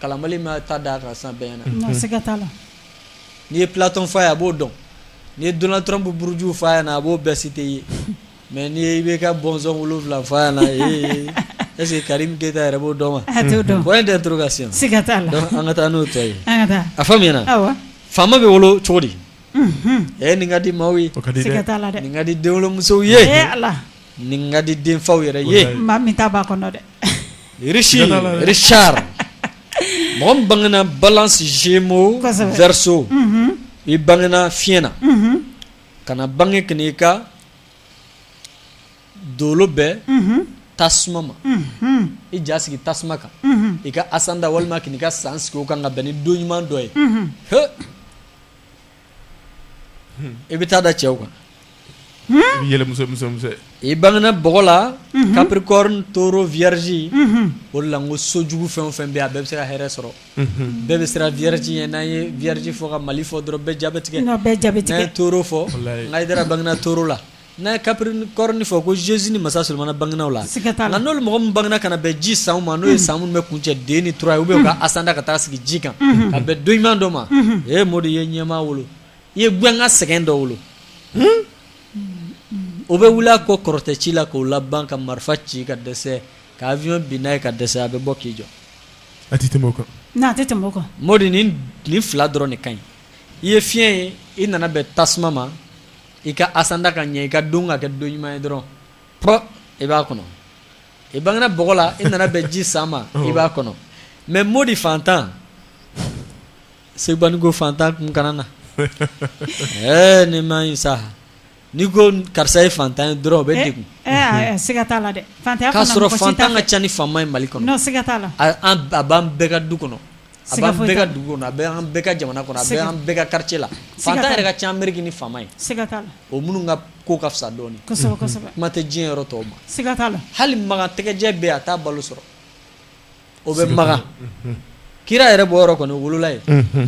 Kalanbali ma ta da a kan san bɛɛ na n'i ye platon f'a ye a b'o dɔn n'i ye donald trump buruju f'a ɲɛna a b'o bɛɛ cité i ye mais n'i ye IBK bɔnsɔn wolonwula f'a ɲɛna est-ce que karim keyita yɛrɛ b'o dɔn wa point d'interrogation siga t'a la an ka taa n'o tɔ ye a faamuna faama bɛ wolo cogo di ɛ nin ka di maaw ye ka di denwolomusow ye nin ka di denfaw yɛrɛ ye maa min ta b'a kɔnɔ dɛ richard mɔgɔ min bangena Balance Gémeaux Verseau i bangena fiɲɛ na ka na bange ka n'i ka dolo bɛn tasuma ma i ja sigi tasuma kan i ka asanda walima k'i ka san sigi o kan ka bɛn ni don ɲuman dɔ ye i bɛ taa da cɛw kan i bangegina bɔgɔ la kapri toro viriz o la ko sojugu fɛn o fɛn bɛ a bɛɛ bɛ se ka hɛrɛɛrɛ sɔrɔ bɛɛ bɛ siran viti ye n'an ye viti fɔ ka mali fɔ dɔrɔn bɛɛ jatigɛ bɛɛ jatigito fɔ n' bangeina to la N'a ye capricorne fɔ ko Jésus ni masa Solomana bangena o la, siga t'a la, nka n'olu mɔgɔ minnu bangena ka na bɛn ji sanw ma n'o ye san minnu bɛ kuncɛ deux ni trois ye ou bien u ka asanda ka taa sigi ji kan, unhun, ka bɛn don ɲuman dɔ ma, unhun, ee Modi i ye ɲɛmaa wolo, i ye gɛnkan sɛgɛn dɔ wolo, hun, o bɛ wuli a kɔ kɔrɔtɛ ci la k'o laban ka marifa ci ka dɛsɛ ka avion bin n'a ye ka dɛsɛ a bɛ bɔ k'i jɔ, a tɛ tɛmɛ o kan, non a tɛ tɛmɛ o kan, Modi nin nin fila dɔrɔn de ka ɲi, i ye fiɲɛ ye i nana bɛn tasuma ma I ka asanda ka ɲɛ i ka don ka kɛ don ɲuman ye dɔrɔn i b'a kɔnɔ i bangena bɔgɔ la i nana bɛn ji san ma i b'a kɔnɔ mais Modi fantan segubanko fantan kun kana na ɛɛ ni ma sa n'i ko karisa ye fantan ye dɔrɔn o bɛ degun k'a sɔrɔ fantan ka ca ni faama ye Mali kɔnɔ a b'an bɛɛ ka du kɔnɔ A bɛ an bɛɛ ka dugu a bɛ an bɛɛ ka jamana kɔnɔ a bɛ an bɛɛ ka quartier la fantan yɛrɛ ka ca Ameriki ni faama ye o minnu ka ko ka fisa dɔɔnin kuma tɛ diɲɛ yɔrɔ tɔw ma la hali Makan tɛgɛjɛ bɛ a t'a balo sɔrɔ o bɛ Makan kira yɛrɛ bɔyɔrɔ kɔni wolola ye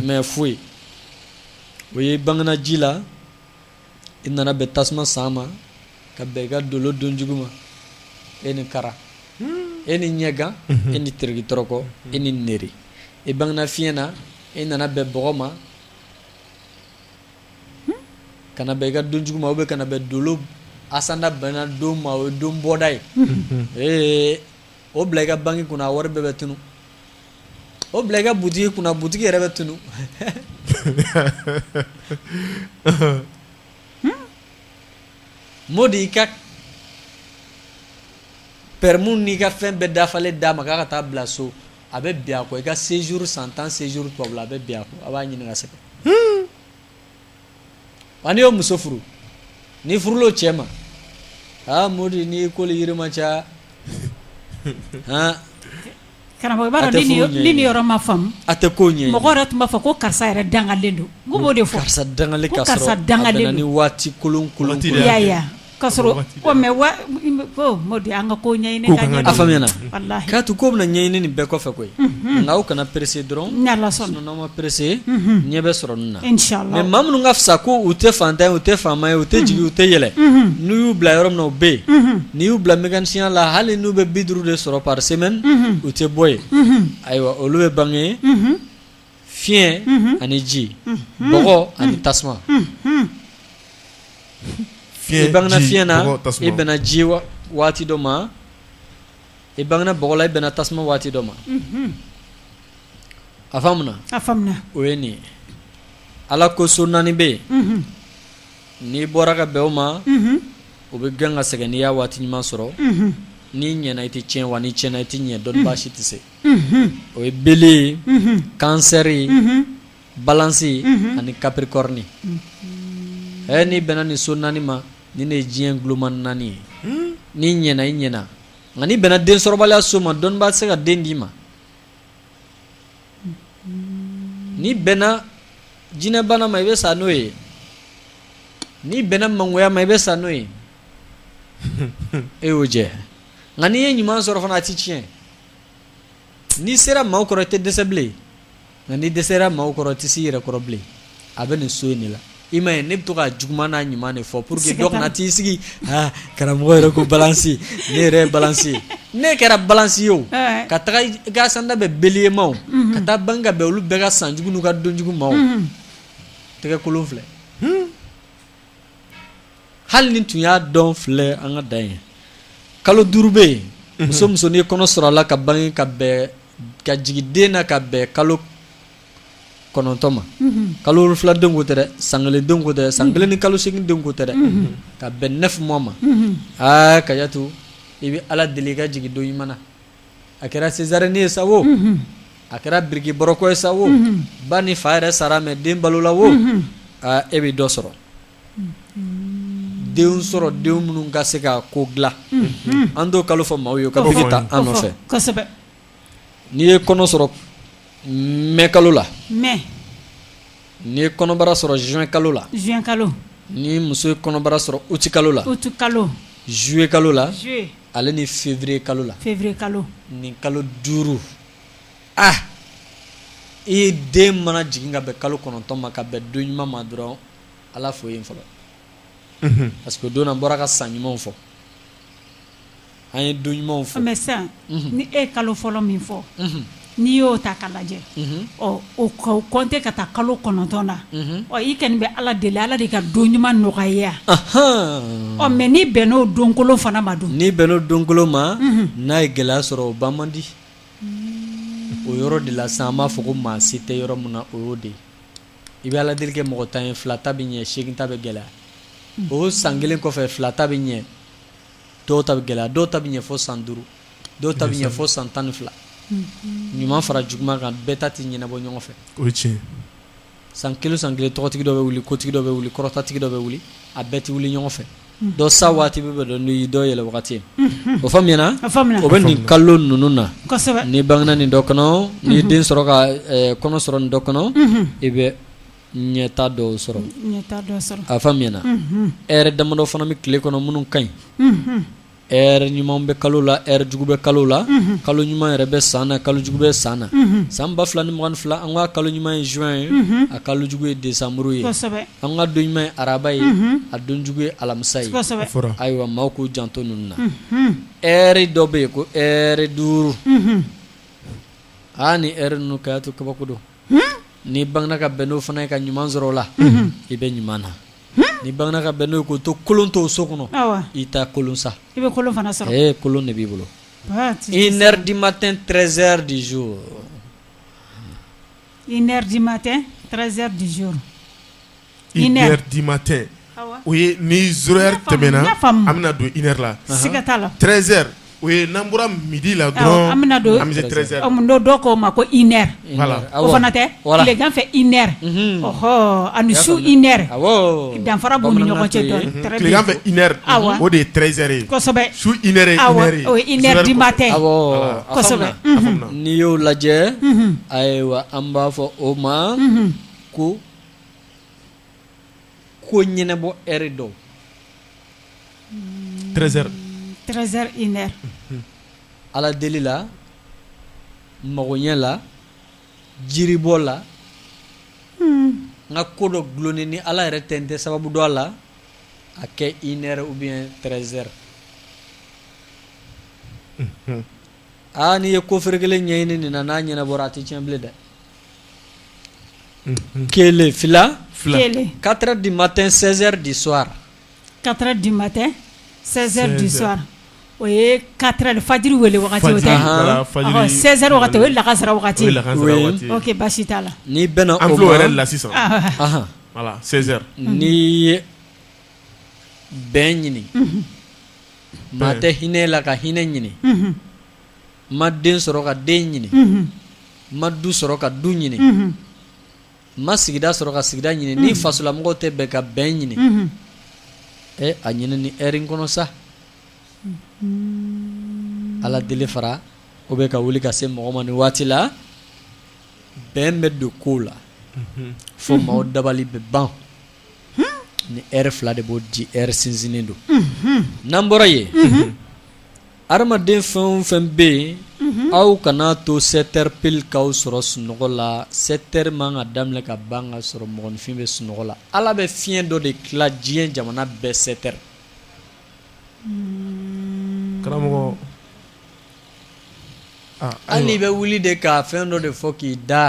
mais foyi o ye bangena ji la i nana bɛn tasuma san ma ka bɛn i ka dolo don jugu ma e ni kara hmm. e ni ɲɛgan mhm. e ni teriki tɔrɔkɔ e ni neri i bangena fiɲɛ na i nana bɛn bɔgɔ ma hmm. ka na bɛn i ka don jugu ma ou bien ka na bɛn dolo asanda bɛnna don ma o ye don bɔda ye mhm. ee o bila i ka banki kunna a wari bɛɛ bɛ tunu o bila i ka butigi kunna butigi yɛrɛ bɛ tunu Modi i ka permis n'i ka fɛn bɛɛ dafalen d'a ma k'a ka taa bila so a bɛ bin a kɔ i ka séjour san tan séjour tubabula a bɛ bin a kɔ a b'a ɲini ka sɛgɛn wa n'i y'o muso furu n'i furula o cɛ ma aa Modi n'i ko ni yiri ma ca han karamɔgɔ i b'a dɔn ni nin yɔrɔ ma faamu a tɛ ko ɲɛ mɔgɔ yɛrɛ tun b'a fɔ ko karisa yɛrɛ dangalen don n tun b'o de fɔ karisa dangalen ka sɔrɔ a bɛnna ni waati kolon kolon ko ye i y'a ye wa. Ka sɔrɔ mais Modi an ka ko ɲɛɲini k'a to ko bɛna ɲɛɲini nin bɛɛ kɔfɛ koyi nka aw kana pressé dɔrɔn n'aw ma pressé ɲɛ bɛ sɔrɔ nin na mais maa minnu ka fisa ko u tɛ fantan ye u tɛ faama ye u tɛ jigin u tɛ yɛlɛ n'u y'u bila yɔrɔ min na u bɛ yen n'i y'u bila mécanicienya la hali n'u bɛ bi duuru de sɔrɔ par semaine u tɛ bɔ yen ayiwa olu bɛ bange ye fiɲɛ ani ji bɔgɔ ani tasuma i bangena fiɲɛ na i bɛnna ji waati dɔ ma i bangena bɔgɔ la i bɛnna tasuma waati dɔ ma a faamuna a faamuna o ye nin ye ala ko so naani bɛ yen n'i bɔra ka bɛn o ma o bɛ gɛn ka sɛgɛn n'i y'a waati ɲuman sɔrɔ n'i ɲɛna i tɛ tiɲɛ wa n'i tiɲɛna i tɛ ɲɛ dɔnnibaa si tɛ se o ye Bélier ye Cancer ye Balance ye ani Capricorne n'i bɛnna nin so naani ma nin de ye diɲɛ tuloma naani ye n'i ɲɛna i ɲɛna nka n'i bɛnna densɔrɔbaliya so ma dɔnnibaa tɛ se ka den d'i ma n'i bɛnna jinɛbana ma i bɛ sa n'o ye n'i bɛnna mangoya ma i bɛ sa n'o ye e y'o jɛ nka n'i ye ɲuman sɔrɔ fana a tɛ tiɲɛ N'i sera maaw kɔrɔ i tɛ dɛsɛ bilen nka n'i dɛsɛra maaw kɔrɔ i tɛ s'i yɛrɛ kɔrɔ bilen a bɛ nin so in de la i m'a ye ne bɛ to ka juguman n'a ɲuman de fɔ pour que dɔ kana t'i sigi karamɔgɔ yɛrɛ ko Balance ne yɛrɛ ye Balance ye ne kɛra Balance ye o ka taga i ka ascendant bɛn Bélier ma o ka taa bange ka bɛn olu bɛɛ ka sanjugu n'u ka donjugu ma o tɛgɛkolon filɛ hali n'i tun y'a dɔn filɛ an ka da ye kalo duuru bɛ yen mhm. muso muso n'i ye kɔnɔ sɔrɔ a la ka bange ka bɛn ka jigin den na ka bɛn kalo kɔnɔntɔn ma mhm. kalo wolonfila den ko tɛ dɛ san kelen den ko tɛ san mhm. kelen ni kalo seegin den ko tɛ dɛ ka bɛn neuf mois ma aa Kajatu i bɛ ala deli i ka jigin don ɲuman na a kɛra césarienne ye sa o a kɛra biriki bɔrɔkɔ ye sa o ba ni fa yɛrɛ sara mais den balola o aa e bɛ dɔ sɔrɔ denw sɔrɔ denw minnu ka se ka ko dilan an t'o kalo fɔ maaw ye ka biki ta an nɔfɛ n'i ye kɔnɔ sɔrɔ mɛ kalo la mɛ n'i ye kɔnɔbara sɔrɔ zuwɛn kalo la zuwɛn kalo ni muso ye kɔnɔbara sɔrɔ uti kalo la uti kalo zuye kalo la Ale ni février kalo la février kalo nin kalo 5 ah i ye den mana jigin ka bɛn kalo 9 ma ka bɛn don ɲuman ma dɔrɔn Ala fo yen fɔlɔ unhun parce que o don na n bɔra ka san ɲumanw fɔ an ye don ɲumanw fɔ mais sisan ni e ye kalo fɔlɔ min fɔ unhun n'i y'o ta k'a lajɛ ɔ o kɔnte ka taa kalo kɔnɔntɔn na ɔ i kɔni bɛ ala deli ala de ka don ɲuman nɔgɔya ɔ mɛ n'i bɛnn'o donkolon fana ma dun n'i bɛnn'o donkolon ma n'a ye gɛlɛya sɔrɔ o ban man di o yɔrɔ de la sa an b'a fɔ ko maa se tɛ yɔrɔ min na o y'o de i bɛ ala deli kɛ mɔgɔ tan ye fila ta bɛ ɲɛ segin ta bɛ gɛlɛya o san kelen kɔfɛ fila ta bɛ ɲɛ dɔw ta bɛ gɛlɛya dɔw ta bɛ ɲɛ fɔ san duuru dɔw ta bɛ ɲɛ fɔ san tan ni fila ɲuman fara juguman kan bɛɛ ta tɛ ɲɛnabɔ ɲɔgɔn fɛ o tiɲɛ san kelen san kelen tɔgɔtigi dɔ bɛ wuli kotigi dɔ bɛ wuli kɔrɔtatigi dɔ bɛ wuli a bɛɛ tɛ wuli ɲɔgɔn fɛ dɔ sa waati bɛ bɛ dɔn dɔ yɛlɛ wagati o fa o bɛ nin kalo ninnu na n'i bangena nin dɔ kɔnɔ n'i ye den sɔrɔ ka kɔnɔ sɔrɔ nin dɔ kɔnɔ i bɛ ɲɛta dɔw sɔrɔ a faamuna ɛrɛ damadɔ fana bɛ tile kɔnɔ minnu ka ɲi Ɛrɛ ɲuman bɛ kalo la ɛrɛ jugu bɛ kalo la kalo ɲuman yɛrɛ bɛ san na kalojugu bɛ san na san ba fila ni mugan ni fila an ka kalo ɲuman ye zuwɛn ye a kalojugu ye desanburu ye an ka don ɲuman ye araba ye a donjugu ye alamisa ye ayiwa maaw k'u janto ninnu na ɛrɛ dɔ bɛ yen ko ɛrɛ duuru aa ni n kɛya to kabako don n'i bangena ka bɛn n'o fana ye ka ɲuman sɔrɔ o la i bɛ ɲuman na ni bamanan ka bɛn n'o ko to kolon to so kɔnɔ i ta kolon sa i bɛ kolon fana sa ee kolon de b'i bolo i di ma tɛ tze de zo i di ma tɛ tze de zo i di ma tɛ o ye ni zoya tɛmɛna an bɛna don i yɛrɛ la siga t'a la tze O ye n'an bɔra midi la dɔrɔn an bɛna don dɔw dɔw k'o ma ko i nɛ o fana tɛ ganfɛ i nɛ ɔɔ ani su i nɛ danfara bɔ ni ɲɔgɔn cɛfɛ i o de ye trezre ye su i yɛrɛrima tɛ n'i y'o lajɛ ayiwa an b'a fɔ o ma ko ko ɲɛnɛbɔ ɛri don treize heures treize heures une heure ala deli la magoɲɛ la jiribɔ la hmm. n ka ko dɔ dulonni ni ala yɛrɛ tɛ n tɛ sababu dɔn a la a kɛ une heure ou bien treize heures aa n'i ye ko feere kelen ɲɛɲini nin na n'a ɲɛnɛbɔra a tɛ tiɲɛ bilen dɛ Kelen fila katara di ma tɛ sɛri de swa kata di ma tɛ sɛri di swa o ye kata ni faji weele o ye lagakasira basi t'a la ni bɛna la sisan ni ye bɛn ɲini maa tɛ hinɛ la ka hinɛ ɲini ma den sɔrɔ ka den ɲini ma du sɔrɔ ka du ɲini ma sigida sɔrɔ ka sigida ɲini ni fasolamɔgɔw tɛ bɛn ka bɛn ɲini ɛ a ɲini ni heure in kɔnɔ sa ala deli fara o bɛ ka wuli ka se mɔgɔ ma ni waati la bɛn bɛ don kow la fo maaw dabali bɛ ban ni heure fila de b'o di heure sinsinnen don n'an bɔra yen Adamaden fɛn o fɛn bɛ yen aw kana to sept heures pile k'aw sɔrɔ sunɔgɔ la sept heures man ka daminɛ ka ban ka sɔrɔ mɔgɔninfin bɛ sunɔgɔ la ala bɛ fiɲɛ dɔ de tila diɲɛ jamana bɛɛ sept heures karamɔgɔ hali bɛ wuli de ka fɛn dɔ de fɔ k'i da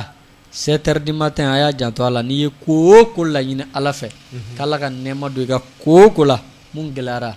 sept heures du matin a y'a janto a la n'i ye ko o ko laɲini ala fɛ k'ala ka nɛɛma don i ka ko o ko la mun gɛlɛyara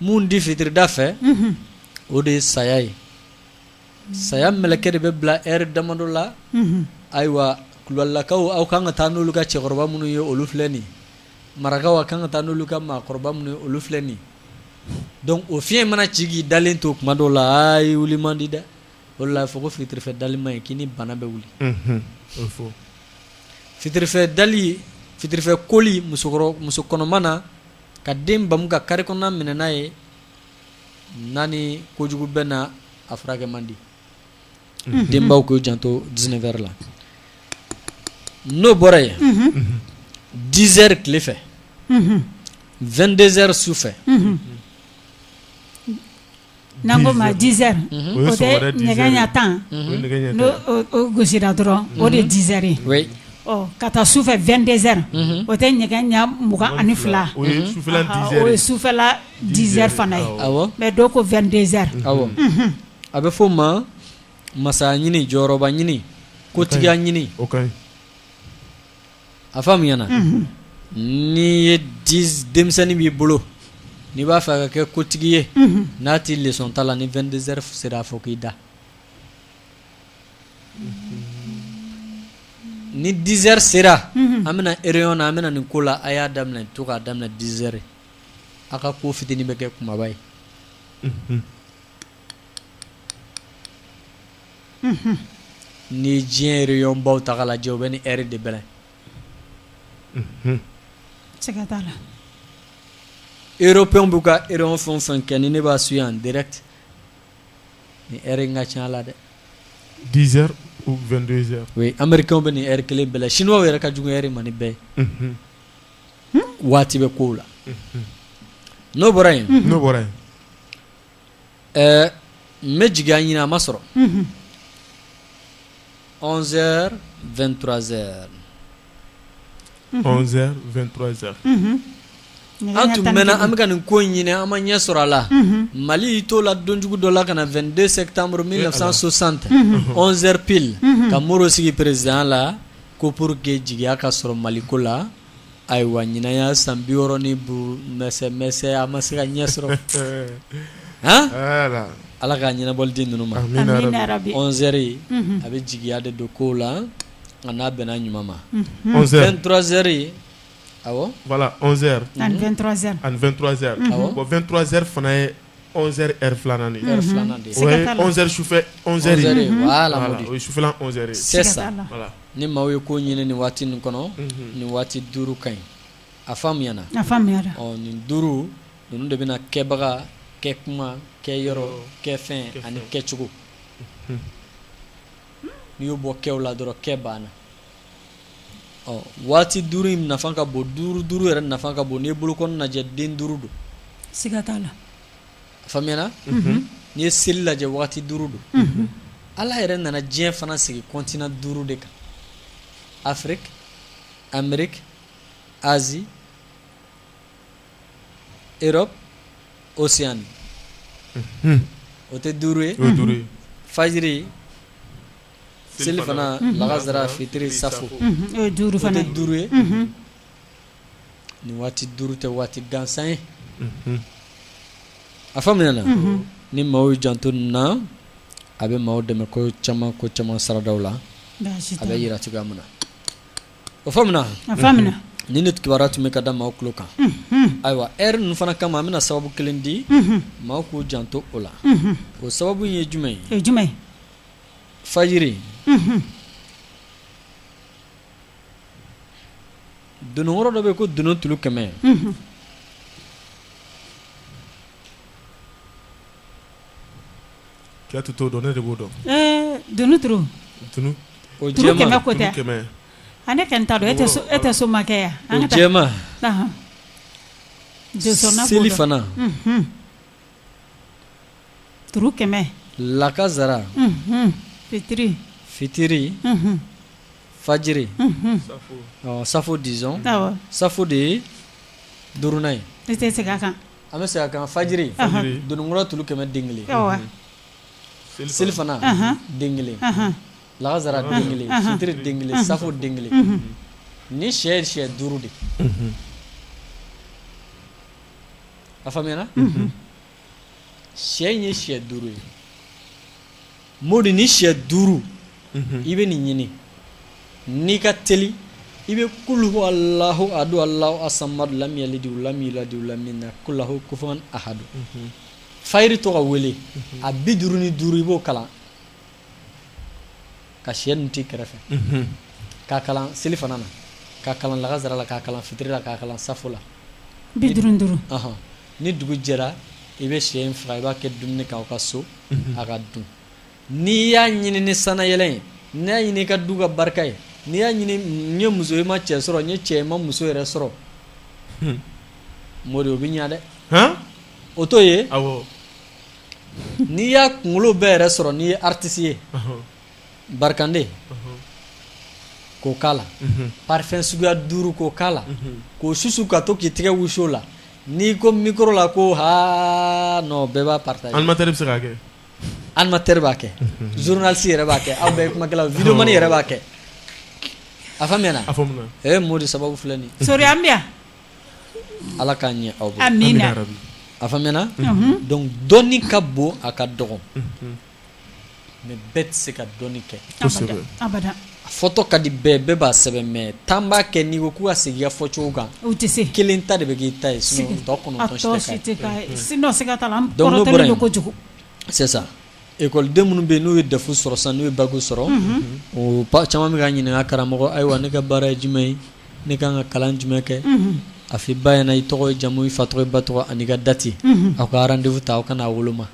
mun de fitirida fɛ, unhun, o de ye saya ye, saya mɛlɛkɛ de bɛ bila heure damadɔ la, unhun, ayiwa kulubalilakaw aw ka kan ka taa n'olu ka cɛkɔrɔba minnu ye olu filɛ nin ye, marakaw aw ka kan ka taa n'olu ka maakɔrɔba minnu ye olu filɛ nin ye donc o fiɲɛ in mana ci k'i dalen to tuma dɔw la aa i wuli man di dɛ, o de la a bɛ fɔ ko fitirifɛ dali man ɲi k'i ni bana bɛ wuli, unhun, o bɛ fɔ, fitirifɛ dali fitirifɛ koli musokɔrɔ musokɔnɔma na ka den bamu ka kari kɔnɔna minɛ n'a ye n'a ni kojugu bɛnna a furakɛ man di mhm. denbaw k'u janto dix-neuf heures la n'o bɔra yen dix heures tile fɛ vingt-deux heures su fɛ n'an ko ma dix heures o tɛ nɛgɛ ɲɛ tan n'o gosira dɔrɔn o de ye dix heures ye ka taa sufɛ vingt-deux heures o tɛ nɛgɛ ɲɛ mugan ani fila o ye sufɛla dix heures fana ye mais dɔw ko vingt-deux heures awɔ a bɛ fɔ o ma masaya ɲini jɔyɔrɔba ɲini kotigiya ɲini A faamuyana n'i ye denmisɛnnin b'i bolo n'i b'a fɛ a ka kɛ kotigi ye n'a tɛ leçon ta la ni vingt-deux heures sera a fɔ k'i da ni dix heures sera an bɛna réunion na an bɛna nin ko la a y'a daminɛ to k'a daminɛ dix heures aw ka ko fitinin bɛ kɛ kumaba ye ni ye diɲɛ yɔrɔ baw ta la jɛ bɛ ni e de bɛ erow b'u ka e fɛn san kɛ ni ne b'a su yan d tɛ ni e ka ca la dɛ diz o anri bɛ ni e kelen bɛɛla siniɔgɔ yɛrɛ ka jugu e man ni bɛɛ ye waati bɛ ko la n'o bɔra yen n'o bɔra yen n bɛ jigin a ɲini a ma sɔrɔ z2tzeɛrɛ z2z an tun bɛ an bɛ ka nin ko ɲini an ma ɲɛ sɔrɔ a la mali y'i t'o la donjugu dɔ la ka na v2de se tanmuru min nasan so sante zep ka mori sigi perezya la ko pour que jigiya ka sɔrɔ maliko la Ayiwa ɲinan y'a san 65 ni mɛsɛ mɛsɛ a ma se ka ɲɛ sɔrɔ. Han Ala ka ɲɛnabɔli di ninnu ma. Amina yarabi. Amina yarabi. 11 heures a bɛ jigiya de don kow la a n'a bɛnna ɲuman ma. 23 heures awɔ. Voila 11 heures ani 23 heures bon 23 heures fana ye 11 heures filanan 11 heures sufɛ sufɛ ni maaw ye ko ɲini nin waati nin kɔnɔ nin waati duuru ka ɲi a faamuyana nin duuru ninnu de bɛna kɛbaga kɛ kuma kɛ yɔrɔ kɛ fɛn ani kɛcogo n'i y'o bɔ kɛ la dɔrɔn kɛ banna ɔ waati duuru in nafa ka bon duuru duuru yɛrɛ nafa ka bon n'i ye bolokɔni lajɛ den duuru don siga t'a la a faamuyana mhm. n'i ye seli lajɛ waati duuru don mhm. ala yɛrɛ nana diɲɛ fana sigi kɔntina duuru de kan afiriki ameriki azi erɔp osiyani mhm. o tɛ duuru ye fajiri selifana laansara fitiri saafo o ye duuru fana ye, o tɛ duuru ye, unhun, nin waati duuru tɛ waati gansan ye, unhun, a faamuyana, unhun, ni maaw y'u janto nin na a bɛ maaw dɛmɛ ko caman ko caman saradaw la baasi t'a la, a bɛ jira cogoya min na o faamuna, a faamuna, ni nin kibaruya tun bɛ ka da maaw tulo kan, unhun, ayiwa heure ninnu fana kama an bɛna sababu kelen di, unhun, maaw k'u janto o la, unhun, o sababu in ye jumɛn ye, o ye jumɛn ye fajiri dononkɔrɔ dɔ bɛ ko dunun tulu kɛmɛ k'e t'o dɔn ne de b'o dɔn dunun ne ka ta e e tɛ so makɛ yan an seli fana Turu kɛmɛ lakasara fitiri fitiri fajiri safo disons safo de ye duurunan ye e tɛ segin a kan an bɛ segin a kan fajiri dononkɔrɔ tulu kɛmɛ den kelen selifana den kelen lakasara den kelen fitiri den kelen safo den kelen ni shɛ ye shɛ duuru de A faamuyana sɛ in ye sɛ duuru ye Modi ni sɛ duuru i bɛ nin ɲini n'i ka teli i bɛ kul huwa Allahu ahadu Allahu samadu lam yalid wa lam yulad wa lam yakun lahu kufuwan ahadu fajiri to ka wele a bi duuru ni duuru i b'o kalan ka sɛ ninnu t'i kɛrɛfɛ k'a kalan selifana na k'a kalan lagasara la k'a kalan fitiri la k'a kalan safo la bi duuru duuru ni dugu jɛra i bɛ sɛ in faga i b'a kɛ dumuni k'aw ka so a ka dun n'i y'a ɲini ni sanayɛlɛ ye n'i y'a ɲini i ka du ka barika ye n'i y'a ɲini n'i ye muso i ma cɛ sɔrɔ n'i ye cɛ i ma muso yɛrɛ sɔrɔ Modi o bɛ ɲɛ dɛ o t'o ye n'i y'a kunkolo bɛɛ yɛrɛ sɔrɔ n'i ye artiste ye ɔnhɔn barikande ɔnhɔn k'o k'a la unhun parfum suguya 5 k'o k'a la unhun k'o susu ka to k'i tɛgɛ wusu o la n'i ko micro la ko haa non bɛɛ b'a partager animateur bɛ se k'a kɛ animateur b'a kɛ journaliste yɛrɛ b'a kɛ aw bɛɛ ye kumakɛlaw ye videoman yɛrɛ b'a kɛ a faamuyana a faamuna ee Modi sababu filɛ nin ye Sori an bɛ yan Ala k'a ɲɛ aw bolo a faamuna donc dɔnni ka bon a ka dɔgɔn mais bɛɛ tɛ se ka dɔnni kɛ a fɔtɔ ka di bɛɛ bɛɛ b'a sɛbɛn mais tan b'a kɛ n'i ko k'u ka segin a fɔcogo kan u tɛ se kelen ta de bɛ k'i ta ye sinon tɔ kɔnɔntɔn École den minnu bɛ yen n'u ye DEF sɔrɔ sisan n'u ye bac sɔrɔ o ba caman bɛ ka ɲininka karamɔgɔ ayiwa ne ka baara ye jumɛn ye ne ka kan ka kalan jumɛn kɛ a fɔ i ba ɲɛna i tɔgɔ i jamu i fa tɔgɔ ba tɔgɔ ani ka date aw ka rendez-vous ta aw ka n'a woloma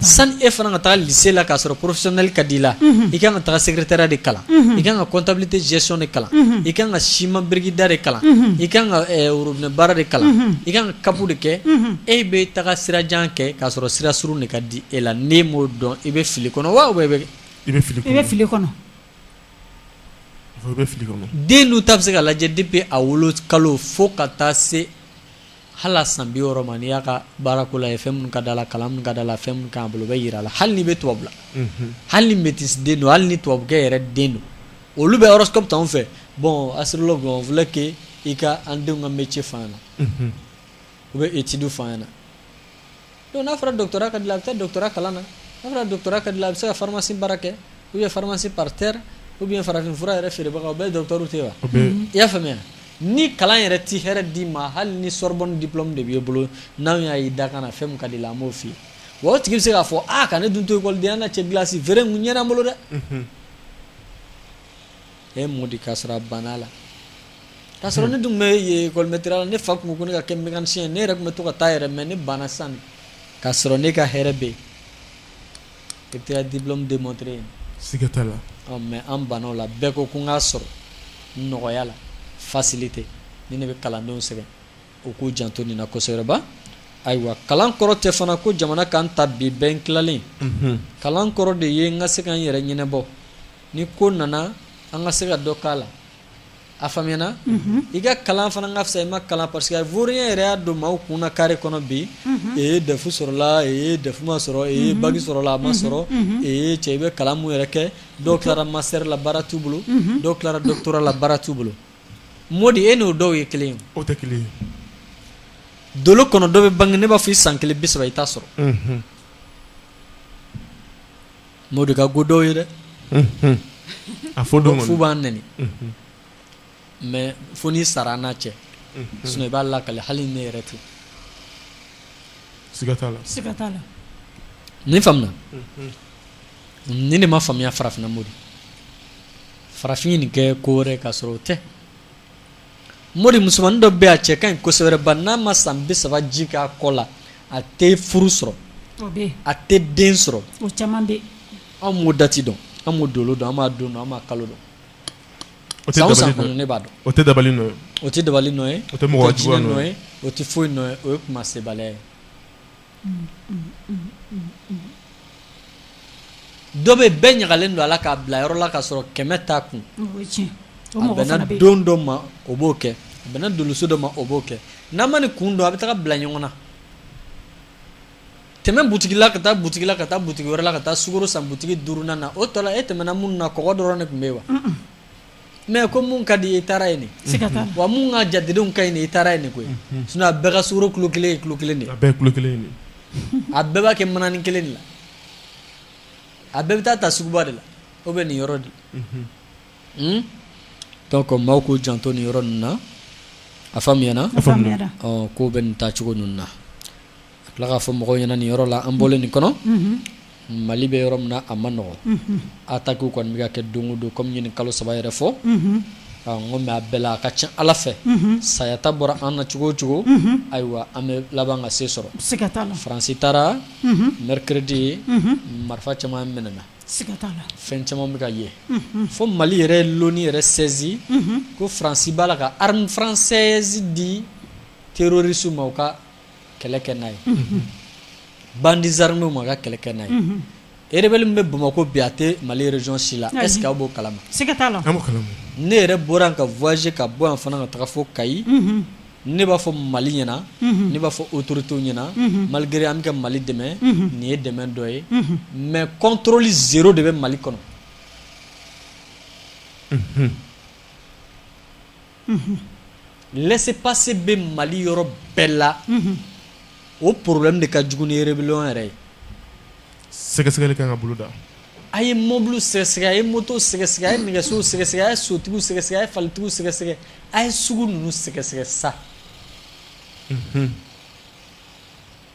sani e fana ka taa lycée la k'a sɔrɔ professionnel ka di i la i ka kan ka taa secrétariat de kalan i ka kan ka comptabilité gestion de kalan i ka kan ka ciment birikida de kalan i ka kan ka robinet baara de kalan i ka kan ka CAP de kɛ e bɛ taga sira jan kɛ k'a sɔrɔ sira surun de ka di e la n'e m'o dɔn i bɛ fili kɔnɔ wa bɛ i bɛ fili i bɛ fili kɔnɔ bɛ fili kɔnɔ den ninnu ta bɛ se ka lajɛ depuis a wolo kalo fo ka taa se hali san bi wɔɔrɔ ma n'i y'a ka baarako la ye fɛn min ka d'a la kalan min ka d'a la fɛn min k'a bolo o bɛ jira a la hali n'i bɛ tubabu la hali ni métis den don hali ni tubabukɛ yɛrɛ den don olu bɛ horoscope t'an fɛ bon astrologue on voulait que i ka an denw ka métier f'an ɲɛna u bɛ étude f'an ɲɛna donc n'a fɔra doctorat ka di a la a bɛ taa doctorat kalan na n'a fɔra doctorat ka di a la a bɛ se ka pharmacie baara kɛ ou bien pharmacie par terre ou bien farafin fura yɛrɛ feerebaga u bɛɛ docteur tɛ wa i y'a faamuya ni kalan yɛrɛ tɛ hɛrɛ d'i ma hali ni Sorbonne diplôme de b'i bolo n'an y'a ye dakan na fɛn min ka di i la an b'o f'i ye wa o tigi bɛ se k'a fɔ aa ka ne dun to écoledenya na cɛ gilasi feere kun ɲɛna n bolo dɛ E Modi k'a sɔrɔ a banna la k'a sɔrɔ ne dun bɛlɛtira ne fa tun ko ne ka kɛ mécanicien ne yɛrɛ tun bɛ to ka taa yɛrɛ mɛ ne banna sisan k'a sɔrɔ ne ka hɛrɛ bɛ yen di de mɔt ye siga t'a la mɛ an banna o la bɛɛ ko ko n k'a sɔrɔ nɔgɔya la facilité ni ne bɛ kalandenw sɛbɛn u k'u janto nin na kosɛbɛba ayiwa kalan kɔrɔ tɛ fana ko jamana ka n ta bi bɛɛ n tilalen kalan kɔrɔ de ye n ka se ka n yɛrɛ ɲɛnabɔ Ni ko nana an ka se ka dɔ k'a la a faamuyana i ka kalan fana ka fisa i ma kalan parce que furuya yɛrɛ y'a don maaw kun na carré kɔnɔ bɛ yen e dɛfu sɔrɔla e dɛfu ma sɔrɔ e baki sɔrɔla a ma sɔrɔ e cɛ i bɛ kalan mun yɛrɛ kɛ dɔw tilara master la baara t'u bolo dɔw tilara doctorat la baara t'u bolo Modi e n'o dɔw ye kelen ye dolo kɔnɔ dɔ bɛ bange ne b'a fɔ i san kelen bi saba i t'a sɔrɔ Modi ka go dɔw ye dɛ a fɔ don fo u b'an nɛni mɛ fo n'i sara n'a cɛ sinon i b'a lakali hali ne yɛrɛ ten ne faamuna ni ne ma faamuya farafinna Modi farafin ye nin kɛ ko wɛrɛ k'a sɔrɔ o tɛ Modi musomanin dɔ bɛ a cɛ ka ɲi kosɛbɛba n'a ma san bi saba ji k'a kɔ la a tɛ furu sɔrɔ a tɛ den sɔrɔ anw m'o dati dɔn an m'o dolo dɔn an m'a don dɔn an m'a kalo dɔn o tɛ ne b'a dɔn o tɛ da o tɛ dabali nɔ ye o tɛ mɔgɔ juguya nɔ ye o tɛ foyi nɔ ye o ye kuma sebaliya ye Dɔ bɛ bɛɛ ɲagalen don a la k'a bila yɔrɔ la k'a sɔrɔ kɛmɛ t'a kun a bɛnna don dɔ ma o b'o kɛ a bɛnna doloso dɔ ma o b'o kɛ n'a ma nin kun dɔn a bɛ taga bila ɲɔgɔn na tɛmɛ butigi la ka taa butigi la ka taa butigi wɛrɛ la ka taa sukaro san butigi duurunan na o tɔ la e tɛmɛna minnu na kɔgɔ dɔrɔn de tun bɛ yen wa mɛ ko mun ka di i taara yen de wa minnu ka jatedenw ka ɲi i taara yen de koyi sinon a bɛɛ ka sukaro kilo kelen kilo kelen de kelen a bɛɛ b'a kɛ mananin kelen de la a bɛɛ bɛ taa a ta suguba de la o bɛ nin yɔrɔ de la donc maaw k'u janto nin yɔrɔ ninnu na a faamuyana ko bɛ nin taa cogo ninnu na A tila k'a fɔ mɔgɔw ɲɛna ni yɔrɔ la an bɔlen nin kɔnɔ mali bɛ yɔrɔ min na a ma nɔgɔ attaque kɔni bɛ ka kɛ don o don kɔmi ɲini kalo saba yɛrɛ fɔ n mɛ a bɛɛ la a ka ca ala fɛ sayata bɔra an na cogo o cogo ayiwa an bɛ laban ka se sɔrɔ faransi taara mercredi marifa caman minɛna fɛn caman bɛ ka ye fo mali yɛrɛ l'ONU yɛrɛ saisi ko faransi b'a la ka arme française di terroriste ma ka kɛlɛ kɛ n'a ye bandits armés ma ka kɛlɛ kɛ n'a ye rebelle min bɛ Bamakɔ bi a tɛ Mali région si la est ce que aw b'o kalama, siga t'a la, an b'o kalama, ne yɛrɛ bɔra yan ka voyager ka bɔ yan fana ka taga fo Kayi ne b'a fɔ Mali ɲɛna ne b'a fɔ autorités ɲɛna malgré an bɛ ka Mali dɛmɛ nin ye dɛmɛ dɔ ye mais contrôle zéro de bɛ Mali kɔnɔ. laisser-passer bɛ mali yɔrɔ bɛɛ la o problème de ka jugu ni rébellion yɛrɛ ye sɛgɛsɛgɛli ka kan ka boloda a ye mɔbili sɛgɛsɛgɛ a ye moto sɛgɛsɛgɛ a ye nɛgɛso sɛgɛsɛgɛ a ye sotigiw sɛgɛsɛgɛ a ye falitigiw sɛgɛsɛgɛ a ye sugu ninnu sɛgɛsɛgɛ sa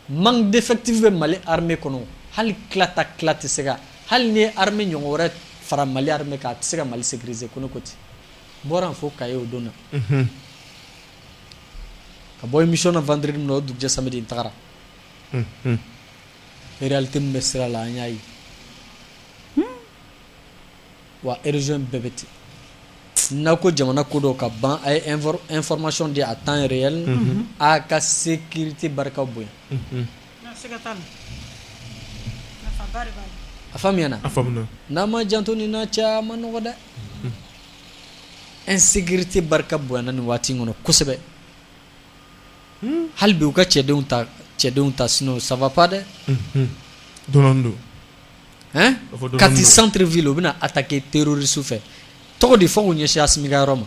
manque d'effectif bɛ mali armée kɔnɔ hali tilata ki tɛ se ka hali n'i ye armée ɲɔgɔn wɛrɛ fara mali armée kan a tɛ se ka mali sécuriser ko ne ko ten bɔra fo Kayi o don na ka bɔ émission na vendredi min na o dugujɛ samedi n tagara réalité min bɛ sira la an y'a ye wa région bɛɛ bɛ ten n'a ko jamana ko dɔ ka ban a ye information di à temps réel a ka sécurité barika bonya a faamuyana n'a ma janto nin na cɛ a ma nɔgɔ dɛ N sigi tɛ barika bon ni waati kɔnɔ kosɛbɛ hali bi u ka cɛdenw ta cɛdenw ta sun saba pa dɛ don don ka sanururi v u bɛna a ta kɛ teriri su fɛ tɔgɔ de fɔ ɲɛsinya simi yɔrɔ ma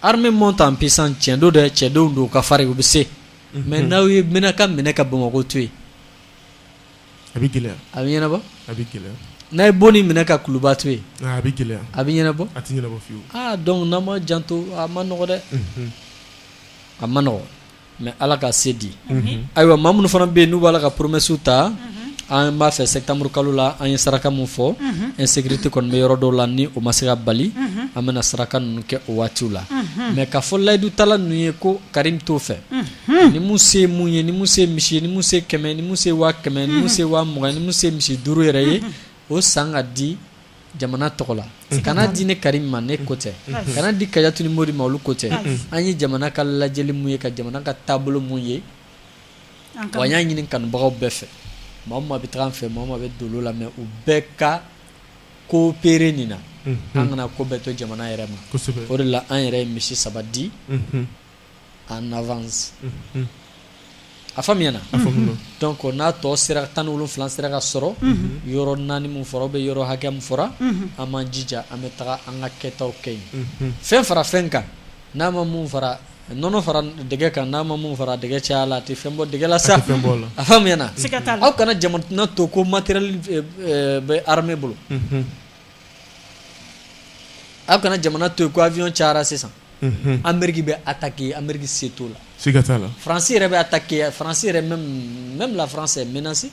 hamɛ ta psan cɛn don dɛ cɛdenw don ka fari u bɛ se mɛ n'aw ye mɛn ka minɛ ka bamakɔ to yen a bɛ gɛlɛya a bɛ ɲɛnabɔ a bɛ gɛlɛya n'a ye Boni minɛ ka Kuluba to yen a bɛ gɛlɛya a bɛ ɲɛnabɔ a tɛ ɲɛnabɔ fiyewu aa donc n'an ma janto a ma nɔgɔ dɛ a ma nɔgɔ mais Ala ka se di ayiwa maa minnu fana bɛ yen n'u b'a la ka promessew ta an b'a fɛ septembre kalo la an ye saraka min fɔ insécurité kɔni bɛ yɔrɔ dɔw la ni o ma se ka bali an bɛna saraka ninnu kɛ o waatiw la mais k'a fɔ layidu tala ninnu ye ko Karim t'o fɛ ni mu se mun ye ni mu se misi ye ni mu se kɛmɛ ni mu se waa kɛmɛ ni mu se waa mugan ni mu se misi duuru yɛrɛ ye o san ka di jamana tɔgɔ la kana di ne Karim ma ne ko tɛ kana di Kajatu ni Mori ma olu ko tɛ an ye jamana ka lajɛli mun ye ka jamana ka taabolo mun ye wa an y'a ɲini kanubagaw bɛɛ fɛ maa min bɛ taga an fɛ maa min bɛ dolo la mais u bɛɛ ka coopérer nin na an kana ko bɛɛ to jamana yɛrɛ ma o de la an yɛrɛ ye misi saba di en avance a faamuyana donc n'a tɔ sera tan ni wolonfila sera ka sɔrɔ yɔrɔ naani min fɔra bɛ yɔrɔ hakɛ min fɔra an m'an jija an bɛ taga an ka kɛtaw kɛ yen fɛn fara fɛn kan n'a ma min fara nɔnɔ fara dɛgɛ kan n'a ma min fara dɛgɛ caya la a tɛ fɛn bɔ dɛgɛ la sa a faamuyana aw kana jamana to ko matériel bɛ armée bolo aw kana jamana to yen ko avion cayara sisan Ameriki bɛ attaquer Ameriki se t'o la, siga t'a la, France yɛrɛ bɛ attaquer France yɛrɛ même la France est menacée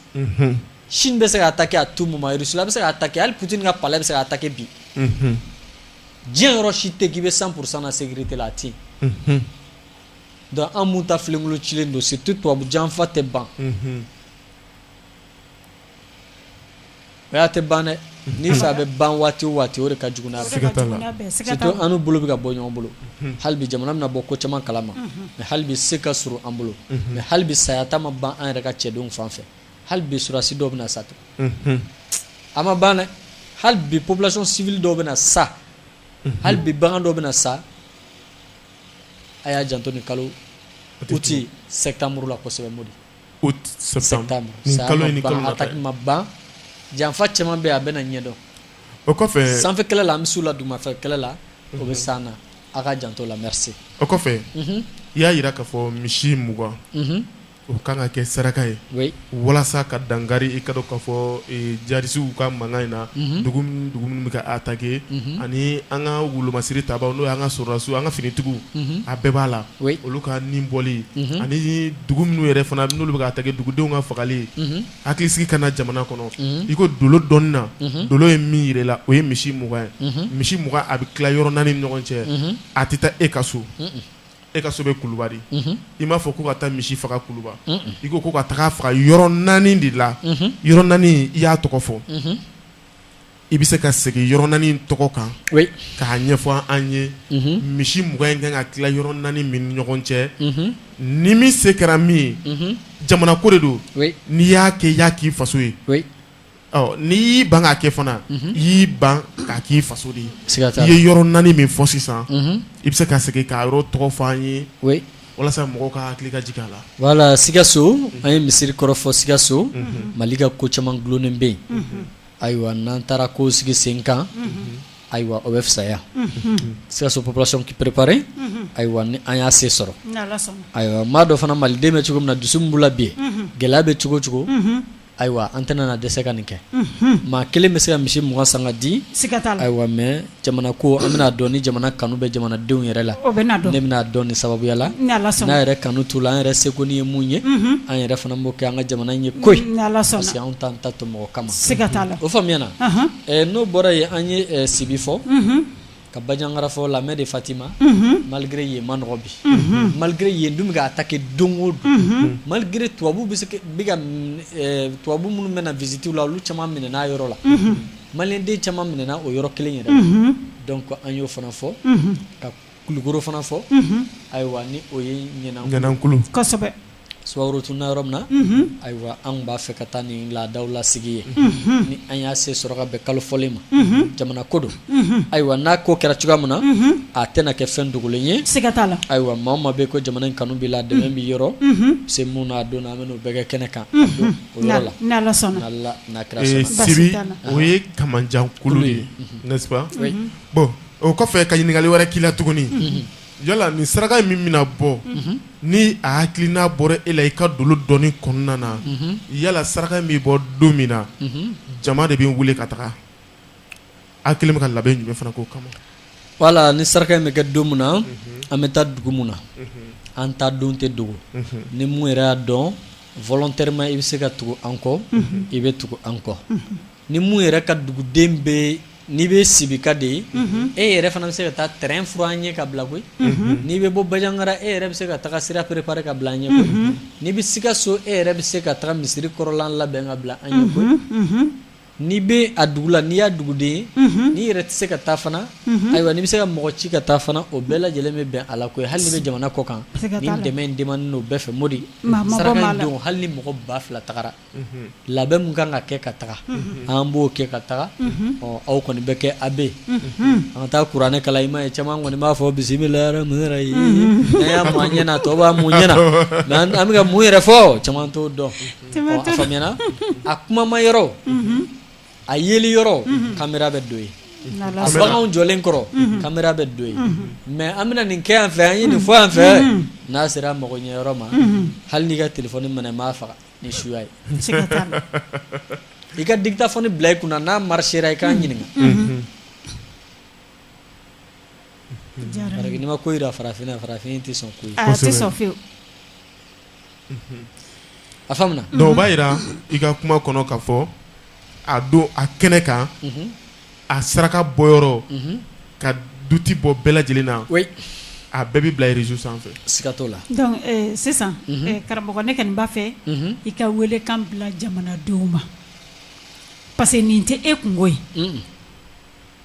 Chine bɛ se ka attaquer à tout moment Russie bɛ se ka attaquer hali Poutine ka palais bɛ se ka attaquer bi diɲɛ yɔrɔ si tɛ yen k'i bɛ 100 pour 100 na sécurité la a tɛ yen donc an minnu ta filenkolon cilen don surtout tubabu janfa tɛ ban O y'a tɛ ban dɛ n'i fɛ a bɛ ban waati o waati o de ka jugu an n'u bolo bɛ ka bɔ ɲɔgɔn bolo hali bi jamana bɛna bɔ ko caman kalama mais hali bi se ka surun an bolo mais hali bi saya ta ma ban an yɛrɛ ka cɛdenw fan fɛ hali bi sɔrɔdasi dɔw bɛ na sa tugun a ma ban hali bi population civile dɔw bɛ na sa hali bi bagan dɔw bɛ na sa a y'aw janto nin kalo uti sɛtanburu la kosɛbɛ mɔ ban janfa caman bɛ a bɛna ɲɛdɔn o kɔfɛ sanfɛ kɛlɛ la an bɛ s'u la dugumafɛ kɛlɛ la u bɛ s'an na aw k'aw janto a la o kɔfɛ i y'a jira k'a fɔ misi mugan o kan ka kɛ saraka ye walasa ka dankari i k'a dɔn k'a fɔ jadisiw ka mankan in na dugu minnu bɛ ka attaquer ani an ka wolomasiri tabaw n'o ye an ka sɔrɔdasiw an ka finitigiw a bɛɛ b'a la olu ka ni bɔli ani dugu minnu yɛrɛ fana n'olu bɛ ka attaquer dugudenw ka fagali hakili sigi ka na jamana kɔnɔ i ko dolo dɔnni na dolo ye min jira i la o ye misi mugan ye misi mugan a bɛ tila yɔrɔ naani ni ɲɔgɔn cɛ a tɛ taa e ka so e ka so bɛ kuluba de i m'a fɔ ko ka taa misi faga kuluba i ko ko ka taga faga yɔrɔ naani de la yɔrɔ naani i y'a tɔgɔ fɔ I bɛ se ka segin yɔrɔ naani tɔgɔ kan k'a ɲɛfɔ an ye misi mugan in ka kan ka tila yɔrɔ naani min ni ɲɔgɔn cɛ ni min se kɛra min ye jamana ko de don n'i y'a kɛ i y'a k'i faso ye n'i y'i ban k'a kɛ fana i y'i ban k'a k'i faso de ye i ye yɔrɔ naani min fɔ sisan i bɛ se ka segin k'a yɔrɔ tɔgɔ fɔ an ye walasa mɔgɔw ka hakili ka jigin a la voilà sikaso an ye misirikɔrɔ fɔ sikaso mali ka ko caman dulonnen bɛ yen Ayiwa n'an taara ko sigi sen kan ayiwa o bɛ fisaya sikaso population k'i préparer ayiwa ni an y'a se sɔrɔ ayiwa maa dɔ fana malidenw bɛ cogo min na dusu min b'u la bi gɛlɛya bɛ cogo o cogo ayiwa an tɛna na dɛsɛ ka nin kɛ maa kelen bɛ se ka misi mugan san ka di ayiwa mɛn jamana ko an bɛna dɔn ni jamana kanu bɛ jamanadenw yɛrɛ la ne bɛn'a dɔn nin sababuya la n'a yɛrɛ kanu t'u la an yɛrɛ seko ni ye mun ye mhm. an yɛrɛ fana b'o kɛ an ka jamana ye koyi parce que anw t'an ta to mɔgɔ kama o faamuyana n'o bɔra yen an ye sibi fɔ mhm. ka bajangara fɔ la main de fatima mhm. malgré yen ma nɔgɔ bi malgré yen dun bɛ ka attaquer don o don malgré tubabu bɛ se bɛ ka tubabu minnu bɛ na visite la olu caman minɛna a yɔrɔ la Maliyɛnden caman minɛna o yɔrɔ kelen yɛrɛ donc an y'o fana fɔ ka kulukoro fana fɔ ayiwa ni o ye ɲanankulu sumaworo tununna yɔrɔ min na ayiwa an b'a fɛ ka taa nin laadaw lasigi yen ni an y'a se sɔrɔ ka bɛn kalo fɔlen ma jamana ko don ayiwa n'a ko kɛra cogoya min na a tɛna kɛ fɛn dogolen ye siga t'a la ayiwa maa o maa bɛ ko jamana in kanu b'i la dɛmɛ b'i yɔrɔ se min n'a don an bɛn'o bɛɛ kɛ kɛnɛ kan o yɔrɔ la. Ni Ala sɔnna. N'Ala n'a kira sɔnna. Basi t'a la. Ee Sibi o ye kamanjan kulu de ye n'est ce pas? Oui . Bon o kɔfɛ ka ɲininkali wɛrɛ k'i la tuguni. Unhun. Yala nin saraka in min bɛna bɔ. Unhun. Ni a hakilina bɔra e la i ka dolo dɔnni kɔnɔna na. Unhun. Yala saraka in bɛ bɔ don min na. Unhun. Jama de bɛ wili ka taga. A kɛlen ka labɛn jumɛn fana k'o kama voilà ni saraka in bɛ kɛ don min na an bɛ taa dugu min na an taa don tɛ dogo ni mun yɛrɛ y'a dɔn volontairement i bɛ se ka tugu an kɔ i bɛ tugu an kɔ ni mun yɛrɛ ka duguden bɛ n'i bɛ sibika de ye e yɛrɛ fana bɛ se ka taa terrain furan an ɲɛ ka bila koyi n'i bɛ bɔ bajangara e yɛrɛ bɛ se ka taa sira préparer ka bila an ɲɛ koyi n'i bɛ sikaso e yɛrɛ bɛ se ka taa misiri kɔrɔlan labɛn ka bila an ɲɛ koyi N'i bɛ a dugu la n'i y'a duguden ye n'i yɛrɛ tɛ se ka taa fana ayiwa n'i bɛ se ka mɔgɔ ci ka taa fana o bɛɛ lajɛlen bɛ bɛn a la koyi hali n'i bɛ jamana kɔ kan ni dɛmɛ demandé n'o bɛɛ fɛ mɔdi don hali ni mɔgɔ ba fila tagara labɛn min kan ka kɛ ka taga an b'o kɛ ka taga ɔ aw kɔni bɛ kɛ a bɛ an ka taa kuranɛ kalan i ma ye caman kɔni b'a fɔ bisimila yɛrɛ mun yɛrɛ ye a y'a ɲɛna tɔw b'a mun ɲɛna an bɛ ka mun yɛrɛ fɔ caman t'o dɔn a kumama yɔrɔ a yeli yɔrɔ caméra bɛ don yen a bagan jɔlen kɔrɔ caméra bɛ don yen mais an bɛna nin kɛ yan fɛ an ye nin fɔ yan fɛ n'a sera mago ɲɛ yɔrɔ ma hali n'i ka téléphone mɛnɛna n b'a faga ni suya ye i ka dictaphone bila i kunna n'a marchera i k'an ɲininka n'i ma ko jira farafinna farafin tɛ sɔn ko tɛ A faamuna donc o b'a jira i ka kuma kɔnɔ k'a fɔ a don a kɛnɛ kan a saraka bɔ yɔrɔ ka doute bɔ bɛɛ lajɛlen na a bɛɛ bɛ bila réseau sanfɛ siga t'a la donc sisan karamɔgɔ ne kɔni b'a fɛ i ka welekan bila jamanadenw ma parce que nin tɛ e kungo ye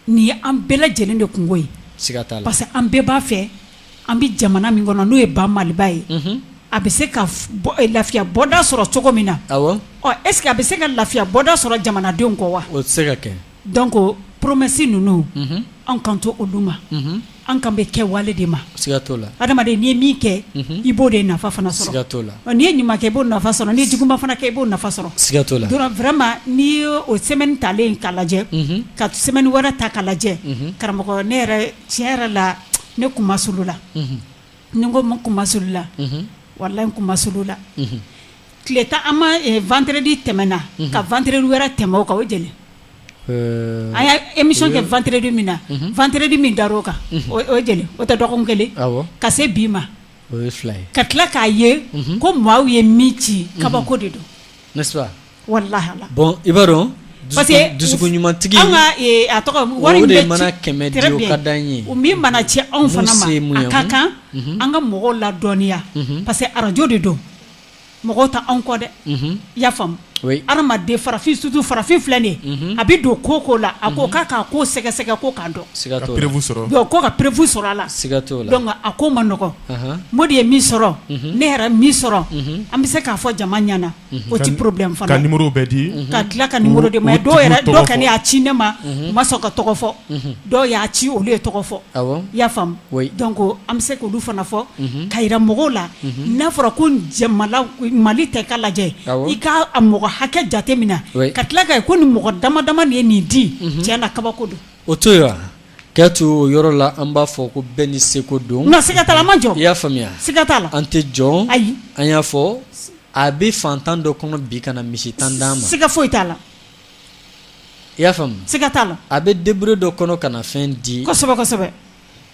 nin ye an bɛɛ lajɛlen de kunko ye, siga t'a la, parce que an bɛɛ b'a fɛ an bɛ jamana min kɔnɔ n'o ye ba Maliba ye, unhun, a bɛ se ka lafiya bɔda sɔrɔ cogo min na, awɔ, ɔ est-ce que a bɛ se ka lafiya bɔda sɔrɔ jamanadenw kɔ wa? O tɛ se ka kɛ, donc promesse ninnu, unhun, an kan t'olu ma, unhun An kan bɛ kɛwale de ma siga t'o la adamaden n'i ye min kɛ i b'o de nafa fana sɔrɔ siga t'o la n'i ye ɲuman kɛ i b'o nafa sɔrɔ n'i ye juguman fana kɛ i b'o nafa sɔrɔ siga t'o la donc vraiment n'i y'o semaine talen k'a lajɛ ka semaine wɛrɛ ta k'a lajɛ karamɔgɔ ne yɛrɛ tiɲɛ yɛrɛ la ne kunmasulula n ko n kunmasulula walahi n kunmasulula tile tan an ma vendredi tɛmɛna ka vendredi wɛrɛ tɛmɛ o kan o ye jeli ye an ye émission kɛ vendredi min na vendredi min dara o kan o ye jeli ye o tɛ dɔgɔkun kelen ye ka se bi ma o ye fila ye ka tila k'a ye ko maaw ye min ci kabako de don n'est-ce pas walahi Ala bon i b'a dɔn parce que dusukun ɲuman tigi an ka a tɔgɔ ye wari min bɛ ci o de mana kɛmɛ di o ka d'an ye o min mana ci anw fana ma a ka kan an ka mɔgɔw ladɔnniya parce que arajo de don mɔgɔw tɛ anw kɔ dɛ, unhun, i y'a faamu, oui, adamaden farafin surtout farafin filɛ nin ye, unhun, a bɛ don ko o ko la, a ko k'a k'a ko sɛgɛsɛgɛ ko k'a dɔn, siga t'o la, ka preuve sɔrɔ, donc ko ka preuve sɔrɔ a la, siga t'o la, donc a ko man nɔgɔn, anhan, Modi ye min sɔrɔ, unhun, ne yɛrɛ min sɔrɔ, unhun, an bɛ se k'a fɔ jama ɲɛna, unhun, o tɛ problème fana ye, ka numéros bɛɛ di, unhun, ka tila ka numéros di, mais dɔw yɛrɛ dɔw kɔni y'a ci ne ma, unhun, u ma sɔn ka tɔgɔ fɔ dɔw y'a ci olu ye tɔgɔ fɔ i y'a faamu donc an bɛ se k'olu fana fɔ k'a yira mɔgɔw la n'a fɔra ko mali tɛ ka lajɛ i k'a mɔgɔ hakɛ jate minɛ ka tila k'a ye ko ni mɔgɔ dama dama de ye nin di tiɲɛ na kabako don o to yen k'a to o yɔrɔ la an b'a fɔ ko bɛɛ n'i seko don nka siga t'a la an m'a jɔn i y'a faamuya siga t'a la an t'a jɔn ayi an y'a fɔ a bɛ fantan dɔ kɔnɔ bi ka na misi tan d'an ma siga foyi t'a la I y'a faamu siga t'a la a bɛ débrouillé dɔ kɔnɔ ka na fɛn di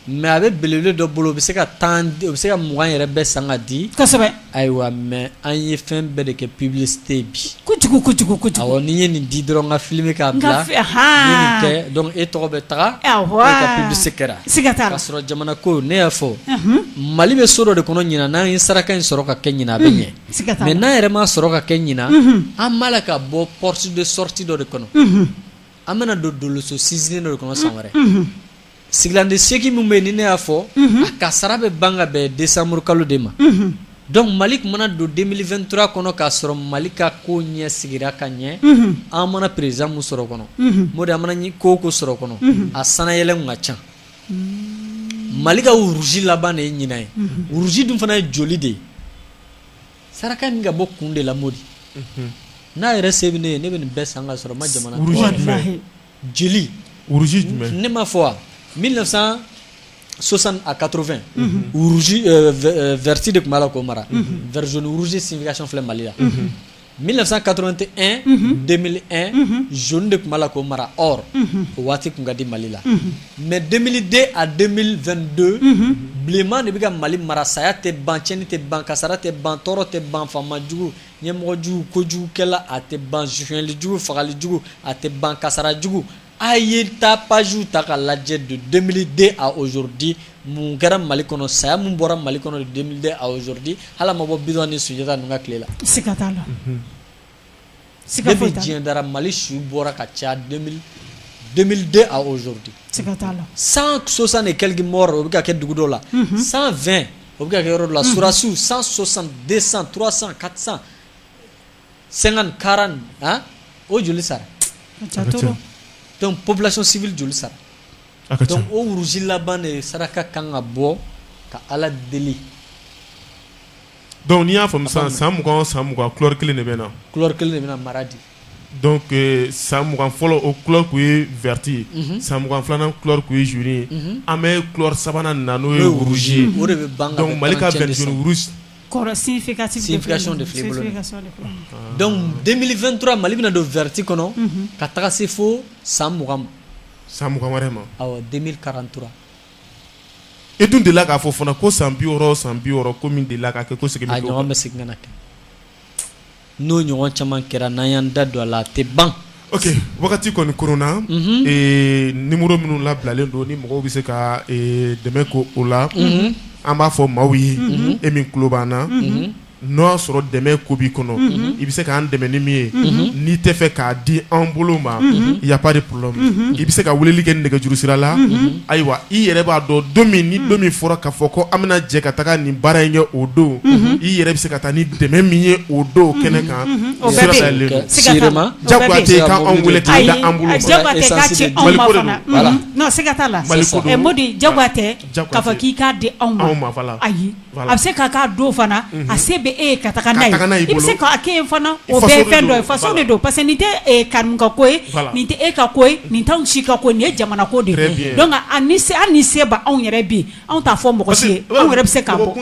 mais a bɛ belebele dɔ bolo o bɛ se ka tan o bɛ se ka mugan yɛrɛ bɛɛ san k'a di ayiwa mais an ye fɛn bɛɛ de kɛ publicité bi kojugu ni n ye nin di dɔrɔn n k'a filmer k'a bila donc e tɔgɔ bɛ taga e ka publicité kɛra k'a sɔrɔ jamana ko ne y'a fɔ mali bɛ so dɔ de kɔnɔ ɲinan n'an ye saraka in sɔrɔ k'a kɛ ɲinan a bɛ ɲɛ mais n'an yɛrɛ m'a sɔrɔ k'a kɛ ɲinan an b'a la ka bɔ porte de sortie dɔ de kɔnɔ an bɛna don doloso sinsinnen dɔ de kɔnɔ san wɛrɛ sigilan de segin min bɛ yen ni ne y'a fɔ a kasara bɛ ban ka bɛn décembre kalo de ma donc mali tun mana don 2023 kɔnɔ k'a sɔrɔ mali ka ko ɲɛ sigira ka ɲɛ an mana président mun sɔrɔ kɔnɔ Modi an mana ko o ko sɔrɔ kɔnɔ a sanyɛlɛkow ka ca mali ka rouge laban de ye ɲinan ye rouge dun fana ye joli de ye saraka min ka bɔ kun de la modi n'a yɛrɛ se bɛ ne ye ne bɛ nin bɛɛ san ka sɔrɔ n ma jamana deli ne m'a fɔ wa 1960 à 80 vert de tun b'a la k'o mara vert jaune rouge signification filɛ mali la 1981 2001 jaune de tun b'a la k'o mara or o waati tun ka di Mali la mais 2002 à 2022 bilenman de bɛ ka Mali mara saya tɛ ban tiɲɛni tɛ ban kasara tɛ ban tɔɔrɔ tɛ ban faama jugu ɲɛmɔgɔ jugu kojugukɛla a tɛ ban sonyali jugu fagali jugu a tɛ ban kasara jugu A ye ta pazsiww ta ka lajɛ don denmisɛnninden a ozodi mun kɛra mali kɔnɔ saya min bɔra mali kɔnɔ den aodi ala mabɔ bi ni sunjata ninnu ka tile la ska la ska foyi diɲɛ dara mali su bɔra ka ca den aodi la san sosan ni kɛlɛki mɔgɔ o bɛ ka kɛ dugu dɔ la san fɛn o bɛ kɛ yɔrɔ la susiw san sɔsan den san tsan ka san sɛgɛn kara o joli sara dɔnku pbilasi joli sara o worosi laban de saraka ka kan ka bɔ ka ala deli dɔnku n'i y'a faamumu san san mugan san mugan kuri kelen de bɛ na kuri kelen de bɛna mara de san mugan fɔlɔ o ku ye vti ye san mugan filanan ku ye zoni ye an bɛ kuri sabanan na n'o ye wuru ye o de bɛ mali ka denfɛntura mali bɛna don vti kɔnɔ ka taga se fo san m san wɛrɛ ma karantura e dun de k'a fɔ fana ko san bi san bi ko de la kɛ ko bɛ segin kɛ n'o ɲɔgɔn caman kɛra n'an y'an da don a la a tɛ ban ok wagati kɔni kɔrɔnna mhm. eh, numéro minnu labilalen don ni mɔgɔw bɛ se ka eh, dɛmɛ k'o la mhm. an b'a fɔ maaw ye mhm. e min tulo b'an na n'o y'a sɔrɔ dɛmɛ ko b'i kɔnɔ i bɛ se k'an dɛmɛ ni min ye n'i tɛ fɛ k'a di an bolo ma y a pas i bɛ se ka weleli kɛ nɛgɛjuru sira la ayiwa i yɛrɛ b'a dɔn don min ni don min fɔra k'a fɔ ko an bɛna jɛ ka taga nin baara in kɛ o don i yɛrɛ bɛ se ka taa ni dɛmɛ min ye o don kɛnɛ kan sira dayɛlɛlen don jagoya tɛ k'an wele k'a di A bɛ se ka ka don fana a se bɛ e ye ka taga n'a ye i bɛ se k'a kɛ o bɛɛ ye fɛn dɔ ye faso de don parce que nin tɛ karimu ka ko ye nin tɛ e ka ko ye nin tɛ anw si ka ko ye nin ye jamana ko de ye ni se an ni se b'anw yɛrɛ bi anw t'a fɔ mɔgɔ si ye anw yɛrɛ bɛ se k'a bɔ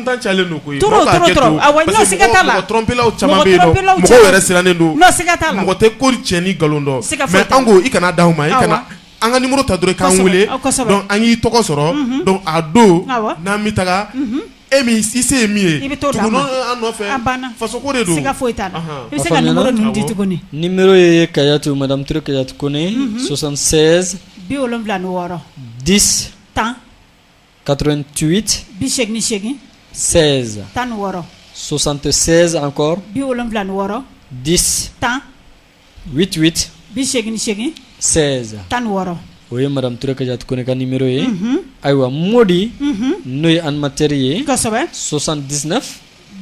siga t'a la mɔgɔ tɛ ko tiɲɛ ni nkalon dɔn i kana d' ma An ka numéro ta dɔrɔn i k'an wele, kosɛbɛ, kosɛbɛ, donc an k'i tɔgɔ sɔrɔ, unhun, donc a don, awɔ, n'an bɛ taga, unhun, e min i se ye min ye, i bɛ t'o d'an ma, tugu an nɔfɛ, a banna, faso ko de don, siga foyi t'a la, anhan, i bɛ se ka numéro ninnu di tuguni, awɔ, numéro ye Kayatu madame Ture Kayatu Kone, unhun, 76 bi wolonwula ni wɔɔrɔ, 10 tan, 88 bi seegin ni seegin, 16 tan ni wɔɔrɔ, 76 encore bi wolonwula ni wɔɔrɔ, 10 tan 88 bi seegin ni seegin 16 tan ni wɔɔrɔ o ye madame Ture Kajatu Kone ka numéro ye ayiwa Modi n'o ye animateur ye kosɛbɛ 79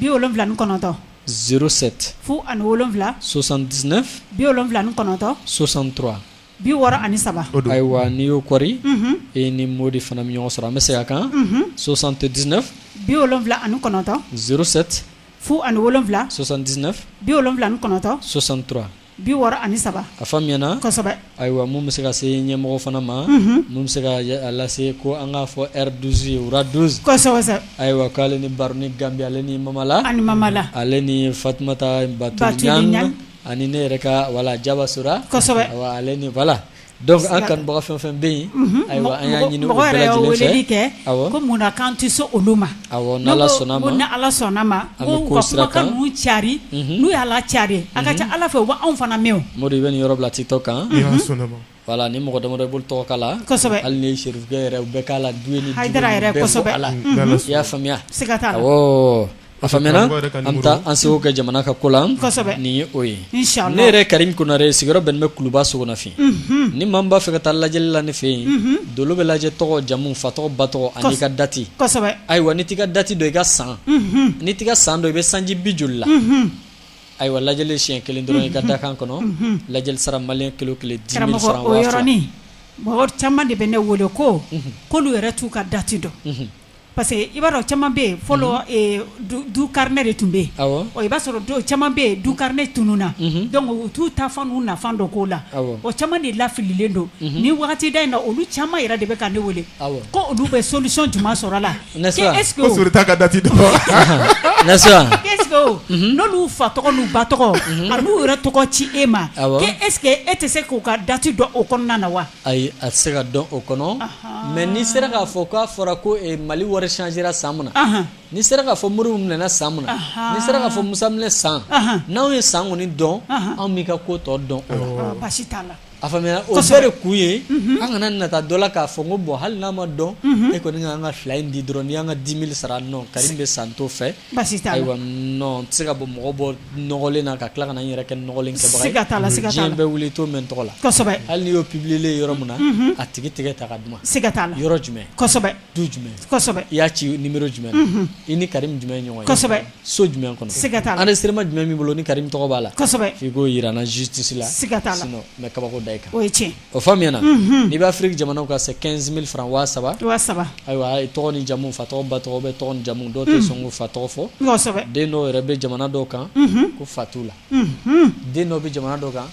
bi wolonwula ni kɔnɔntɔn 07 fu ani wolonwula 79 bi wolonwula ni kɔnɔntɔn 63 bi wɔɔrɔ ani saba o don ayiwa n'i y'o kɔri e ni Modi fana bɛ ɲɔgɔn sɔrɔ an bɛ segin a kan 79 bi wolonwula ani kɔnɔntɔn 07 fu ani wolonwula 79 bi wolonwula ni kɔnɔntɔn 63 bi wɔɔrɔ ani saba a faamuyana kosɛbɛ ayiwa mun bɛ se ka se ɲɛmɔgɔ fana ma mun bɛ se ka lase ko an k'a fɔ Roi 12 ye Roi 12 kosɛbɛ ayiwa k'ale ni Baruni Gambi ale ni Mamala ani Mamala ale ni Fatumata Batuli ani ne yɛrɛ ka voilà Jaba Sora ale ni voilà Donc an kanubaga fɛn fɛn bɛ yen ayiwa an y'a ɲini weleli kɛ ko munna k'an tɛ se olu ma n'Ala sɔnna ma kumakan ninnu cari n'u y'a lacari a ka ca Ala fɛ u bɛ anw fana mɛn Modi i bɛ nin yɔrɔ bila TikTok kan voilà ni mɔgɔ damadɔ i b'olu tɔgɔ k'a la hali ni Serifukɛ yɛrɛ bɛɛ k'a la du yɛrɛ la i y'a faamuya A faamuyana an taa an seko kɛ jamana ka ko la nin ye o ye ne yɛrɛ Karim Konare sigiyɔrɔ bɛnnen bɛ Kuluba Sogonafin ni maa min b'a fɛ ka taa lajɛli la ne fɛ yen dolo bɛ lajɛ tɔgɔ jamu fa tɔgɔ ba tɔgɔ ani i ka dati ayiwa n'i t'i ka dati dɔn i ka san n'i t'i san dɔn i bɛ sanji joli la ayiwa lajɛli siɲɛ kelen dɔrɔn i ka dakan kɔnɔ lajɛli sara Mali kilo kelen 10 000 o yɔrɔnin mɔgɔ caman de bɛ ne wele ko k'olu yɛrɛ t'u ka dati dɔn Parce que i b'a dɔn caman bɛ yen fɔlɔ du carnet de tun bɛ yen i b'a sɔrɔ caman bɛ yen du carnet tununna donc u t'u taafan n'u naafan dɔn k'o la o caman de lafililen don ni wagati da in na olu caman yɛrɛ de bɛ ka ne weele ko olu bɛ solution jumɛn sɔrɔ a la est-ce que n'olu fa tɔgɔ n'u ba tɔgɔ a n'u yɛrɛ tɔgɔ ci e ma e est-ce que e tɛ se k'u ka dati dɔn o kɔnɔna na wa Ayi a tɛ se ka dɔn o kɔnɔ mais n'i sera k'a fɔ k'a fɔra ko Mali wari changera san min na n'i sera k'a fɔ Modibo minɛna san min na n'i sera k'a fɔ Musa minɛ san n'anw ye san kɔni dɔn anw b'i ka ko tɔ dɔn a faamuyana o bɛɛ de kun ye an kana nata don a la k'a fɔ ko bon hali n'a ma dɔn e kɔni an ka fila in di dɔrɔn n'i y'an ka 10 000 sara non Karim bɛ san t'o fɛ ayiwa tɛ se ka bɔ mɔgɔ bɔ nɔgɔlen na ka tila ka na n yɛrɛ kɛ nɔgɔlen kɛbaga ye, siga t'a la, siga t'a la, diɲɛ bɛ wuli i t'o mɛn n tɔgɔ la, kosɛbɛ, hali n'i y'o publier yɔrɔ min na, unhun, a tigi tɛgɛ ta ka d'u ma, siga t'a la, yɔrɔ jumɛn? kosɛbɛ, du jumɛn? kosɛbɛ, i y'a ci numéro jumɛn na? unhun, i ni Karimu jumɛn ye ɲɔgɔn ye? kosɛbɛ, so jumɛn kɔnɔ? siga t'a la, enregistrement jumɛn b'i bolo ni Karimu tɔgɔ b'a la? kosɛbɛ, f'i k'o yira n na justice la, siga t'a la, sinon n bɛ kabako da i kan, o ye tiɲɛn ye. O faamuyana n'i bɛ Afrique jamanaw kan c'est quinze mille francs waa saba ayiwa ye tɔgɔ ni jamu fa tɔgɔ ba tɔgɔ bɛɛ tɔgɔ ni jamu dɔw tɛ sɔn k'u fa tɔgɔ fɔ den dɔw yɛrɛ bɛ jamana dɔw kan ko fa t'u la den dɔw bɛ jamana dɔw kan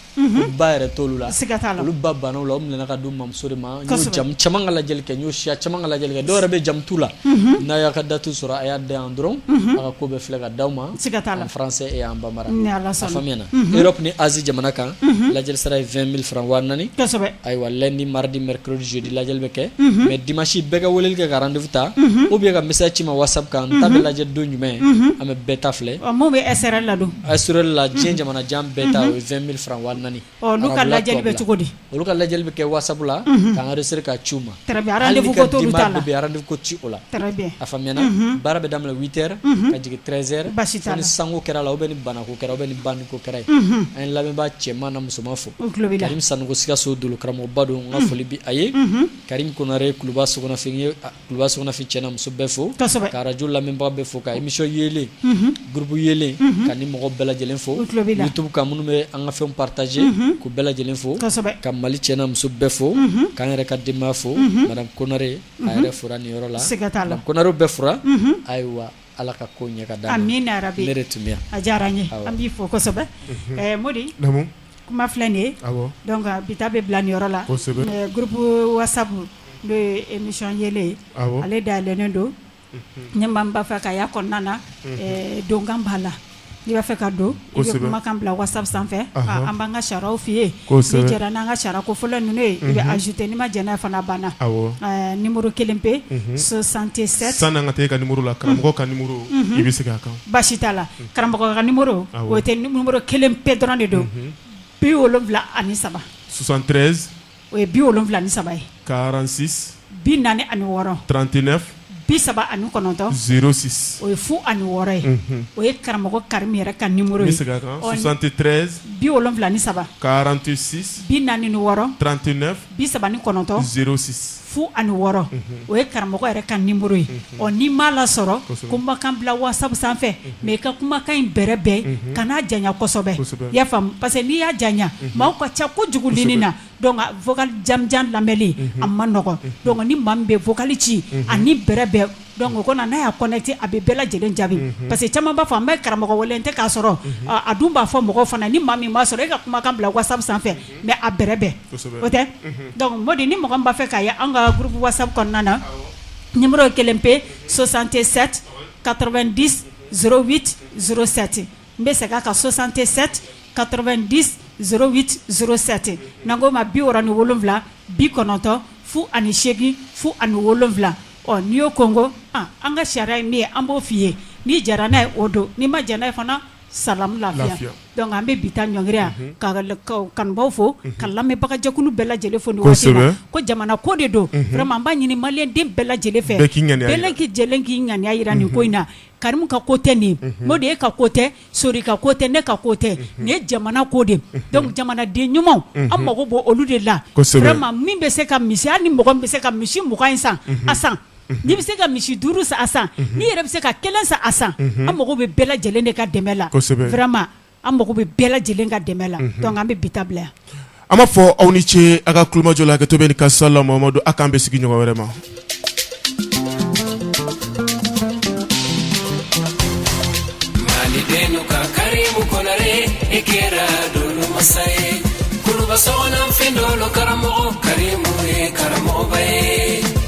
ba yɛrɛ t'olu la a se ka taa olu ba banna u la u minɛna ka d'u mamuso de ma ka lajɛli kɛ n y'o siya caman ka lajɛli kɛ dɔw yɛrɛ bɛ jamu t'u la n'a y'a ka date sɔrɔ a y'a da dɔrɔn a ko bɛ filɛ ka d'aw ma y'an bama ni tun ni az jamana kan lajɛ sara ye fɛn mili fara ayiwa ni maridi zoodi lajɛ bɛ kɛ mɛ di masi bɛɛ ka wele kɛ garanrandufu ta u bɛ ka misa ci ma waasa kan ta bɛ lajɛ don jumɛn an bɛ bɛɛ ta filɛ bɛ ladon a s la diɲɛ jamana jan bɛɛ ta o ye fɛn mili fara ka lajɛ bɛ cogo di olu ka lajɛ bɛ kɛ wasa la k'siri ka ci ma ci o la a fa baara bɛ daminɛ v ka jigin trɛnzɛrɛ basi ni sanu kɛra la u bɛ ni banako kɛra bɛ ni banko kɛra ye an lamɛnba cɛman na musoman fo sanu sikaso don karamɔgɔba don n ka foli bi a ye kari kore kuluba sofɛn ye Kuluba Sɔgɔnafin cɛ n'a muso bɛɛ fo ka radio lamɛnbaa bɛɛ fo ka émission yelen groupe yelen ka ni mɔgɔ bɛɛ lajɛlen fo YouTube kan minnu bɛ an ka fɛn partager k'u bɛɛ lajɛlen fo ka Mali cɛ n'a muso bɛɛ fo k'an yɛrɛ ka denbaya fo madame Konare a yɛrɛ fora nin yɔrɔ la Konarew bɛɛ fora ayiwa Ala ka ko ɲɛ ka d'an ma, amina yarabi, ne de tun bɛ yan, a diyara n ye, awɔ, an b'i fo kosɛbɛ, unhun, ɛɛ Modi, naamu, kuma filɛ nin ye, awɔ, donc bi ta bɛ bila nin yɔrɔ la, kosɛbɛ, ɛɛ groupe WhatsApp n'o ye émission yelen ye, awɔ, ale dayɛlɛlen don, unhun, ni maa min b'a fɛ k'a y'a kɔnɔna na, unhun, ɛɛ donkan b'a la I b'a fɛ ka don i bɛ kumakan bila WhatsApp sanfɛ an b'an ka sariyaw f'i ye n'i jɛra n'an ka sariya kofɔlen ninnu ye i bɛ ajouter n'i ma jɛn n'a ye fana banna numéro kelen pe soixante-sept san'an ka taa i ka numéro la karamɔgɔ ka numéro i bɛ se k'a kan baasi t'a la karamɔgɔ ka numéro o tɛ numéro kelen pe dɔrɔn de don bi wolonwula ani saba soixante-treize o ye bi wolonwula ni saba ye quarante-six bi naani ani wɔɔrɔ trente-neuf bi saba ani kɔnɔntɔn zéro six o ye fu ani wɔɔrɔ ye o ye karamɔgɔ Karimu yɛrɛ ka numéro ye soixante-treize bi wolonwula ni saba quarante-six bi naani ni wɔɔrɔ trente-neuf bi saba ni kɔnɔntɔn zéro six fu ani wɔɔrɔ o ye karamɔgɔ yɛrɛ ka numéro ye ɔ n'i m'a lasɔrɔ kumakan bila WhatsApp sanfɛ mais i ka kumakan in bɛrɛ bɛn kana janya kosɛbɛ i y'a faamu parce que n'i y'a janya maa ka ca kojugu ligne na vocal janjan lamɛnni a ma nɔgɔ donc ni maa bɛ vocal ci ani bɛrɛ bɛn donc o n'a y'a connecté a bɛ bɛɛ lajɛlen jaabi parce que caman b'a fɔ n bɛ karamɔgɔ wele tɛ k'a sɔrɔ a dun b'a fɔ mɔgɔ fana ni maa min b'a sɔrɔ e ka kumakan bila WhatsApp sanfɛ mɛ a bɛ bɛn o tɛ dɔnkucdi ni mɔgɔ b'a fɛ k'a ye an ka burup waasa kɔnɔna na ni kelen pe sososan tɛ sɛti kato2 di s wit s sɛti n bɛ se ka sososan tɛ sɛti kato2 di s wit s sɛte na ko ma bi ni wolowula bi kɔnɔntɔn fu ani seegin fu ani wolowula ɔ n'i y'o koko an ka sariya ye min ye an b'o f fɔ'i ye n'i jara n'a ye o don n'i ma jɛnɛ ye fana sa lafiya donc an bɛ bi ta ɲɔngiri yan ka kanubaw fo ka lamɛnbagajɛkulu bɛɛ lajɛlen fo ko jamana ko de don an b'a ɲini maliyɛnden bɛɛ lajɛlen fɛ k'i ŋaniya jira nin ko in na Karim ka ko tɛ nin Modi e ka ko tɛ Sori ka ko tɛ ne ka ko tɛ nin ye jamana ko de jamanaden ɲumanw an mago b'olu de la min bɛ se ka misi hali ni mɔgɔ bɛ se ka misi mugan in san a san N'i bɛ se ka misi duuru san a san n'i yɛrɛ bɛ se ka kelen san a san an mago bɛ bɛɛ lajɛlen de ka dɛmɛ la vraiment an mago bɛ bɛɛ lajɛlen ka dɛmɛ la an bɛ bi ta bila yan an b'a fɔ aw ni ce aw ka tulomajɔ la hakɛto ka sa la don aw k'an bɛn sigi ɲɔgɔn wɛrɛ ma kɛra karamɔgɔ karamɔgɔ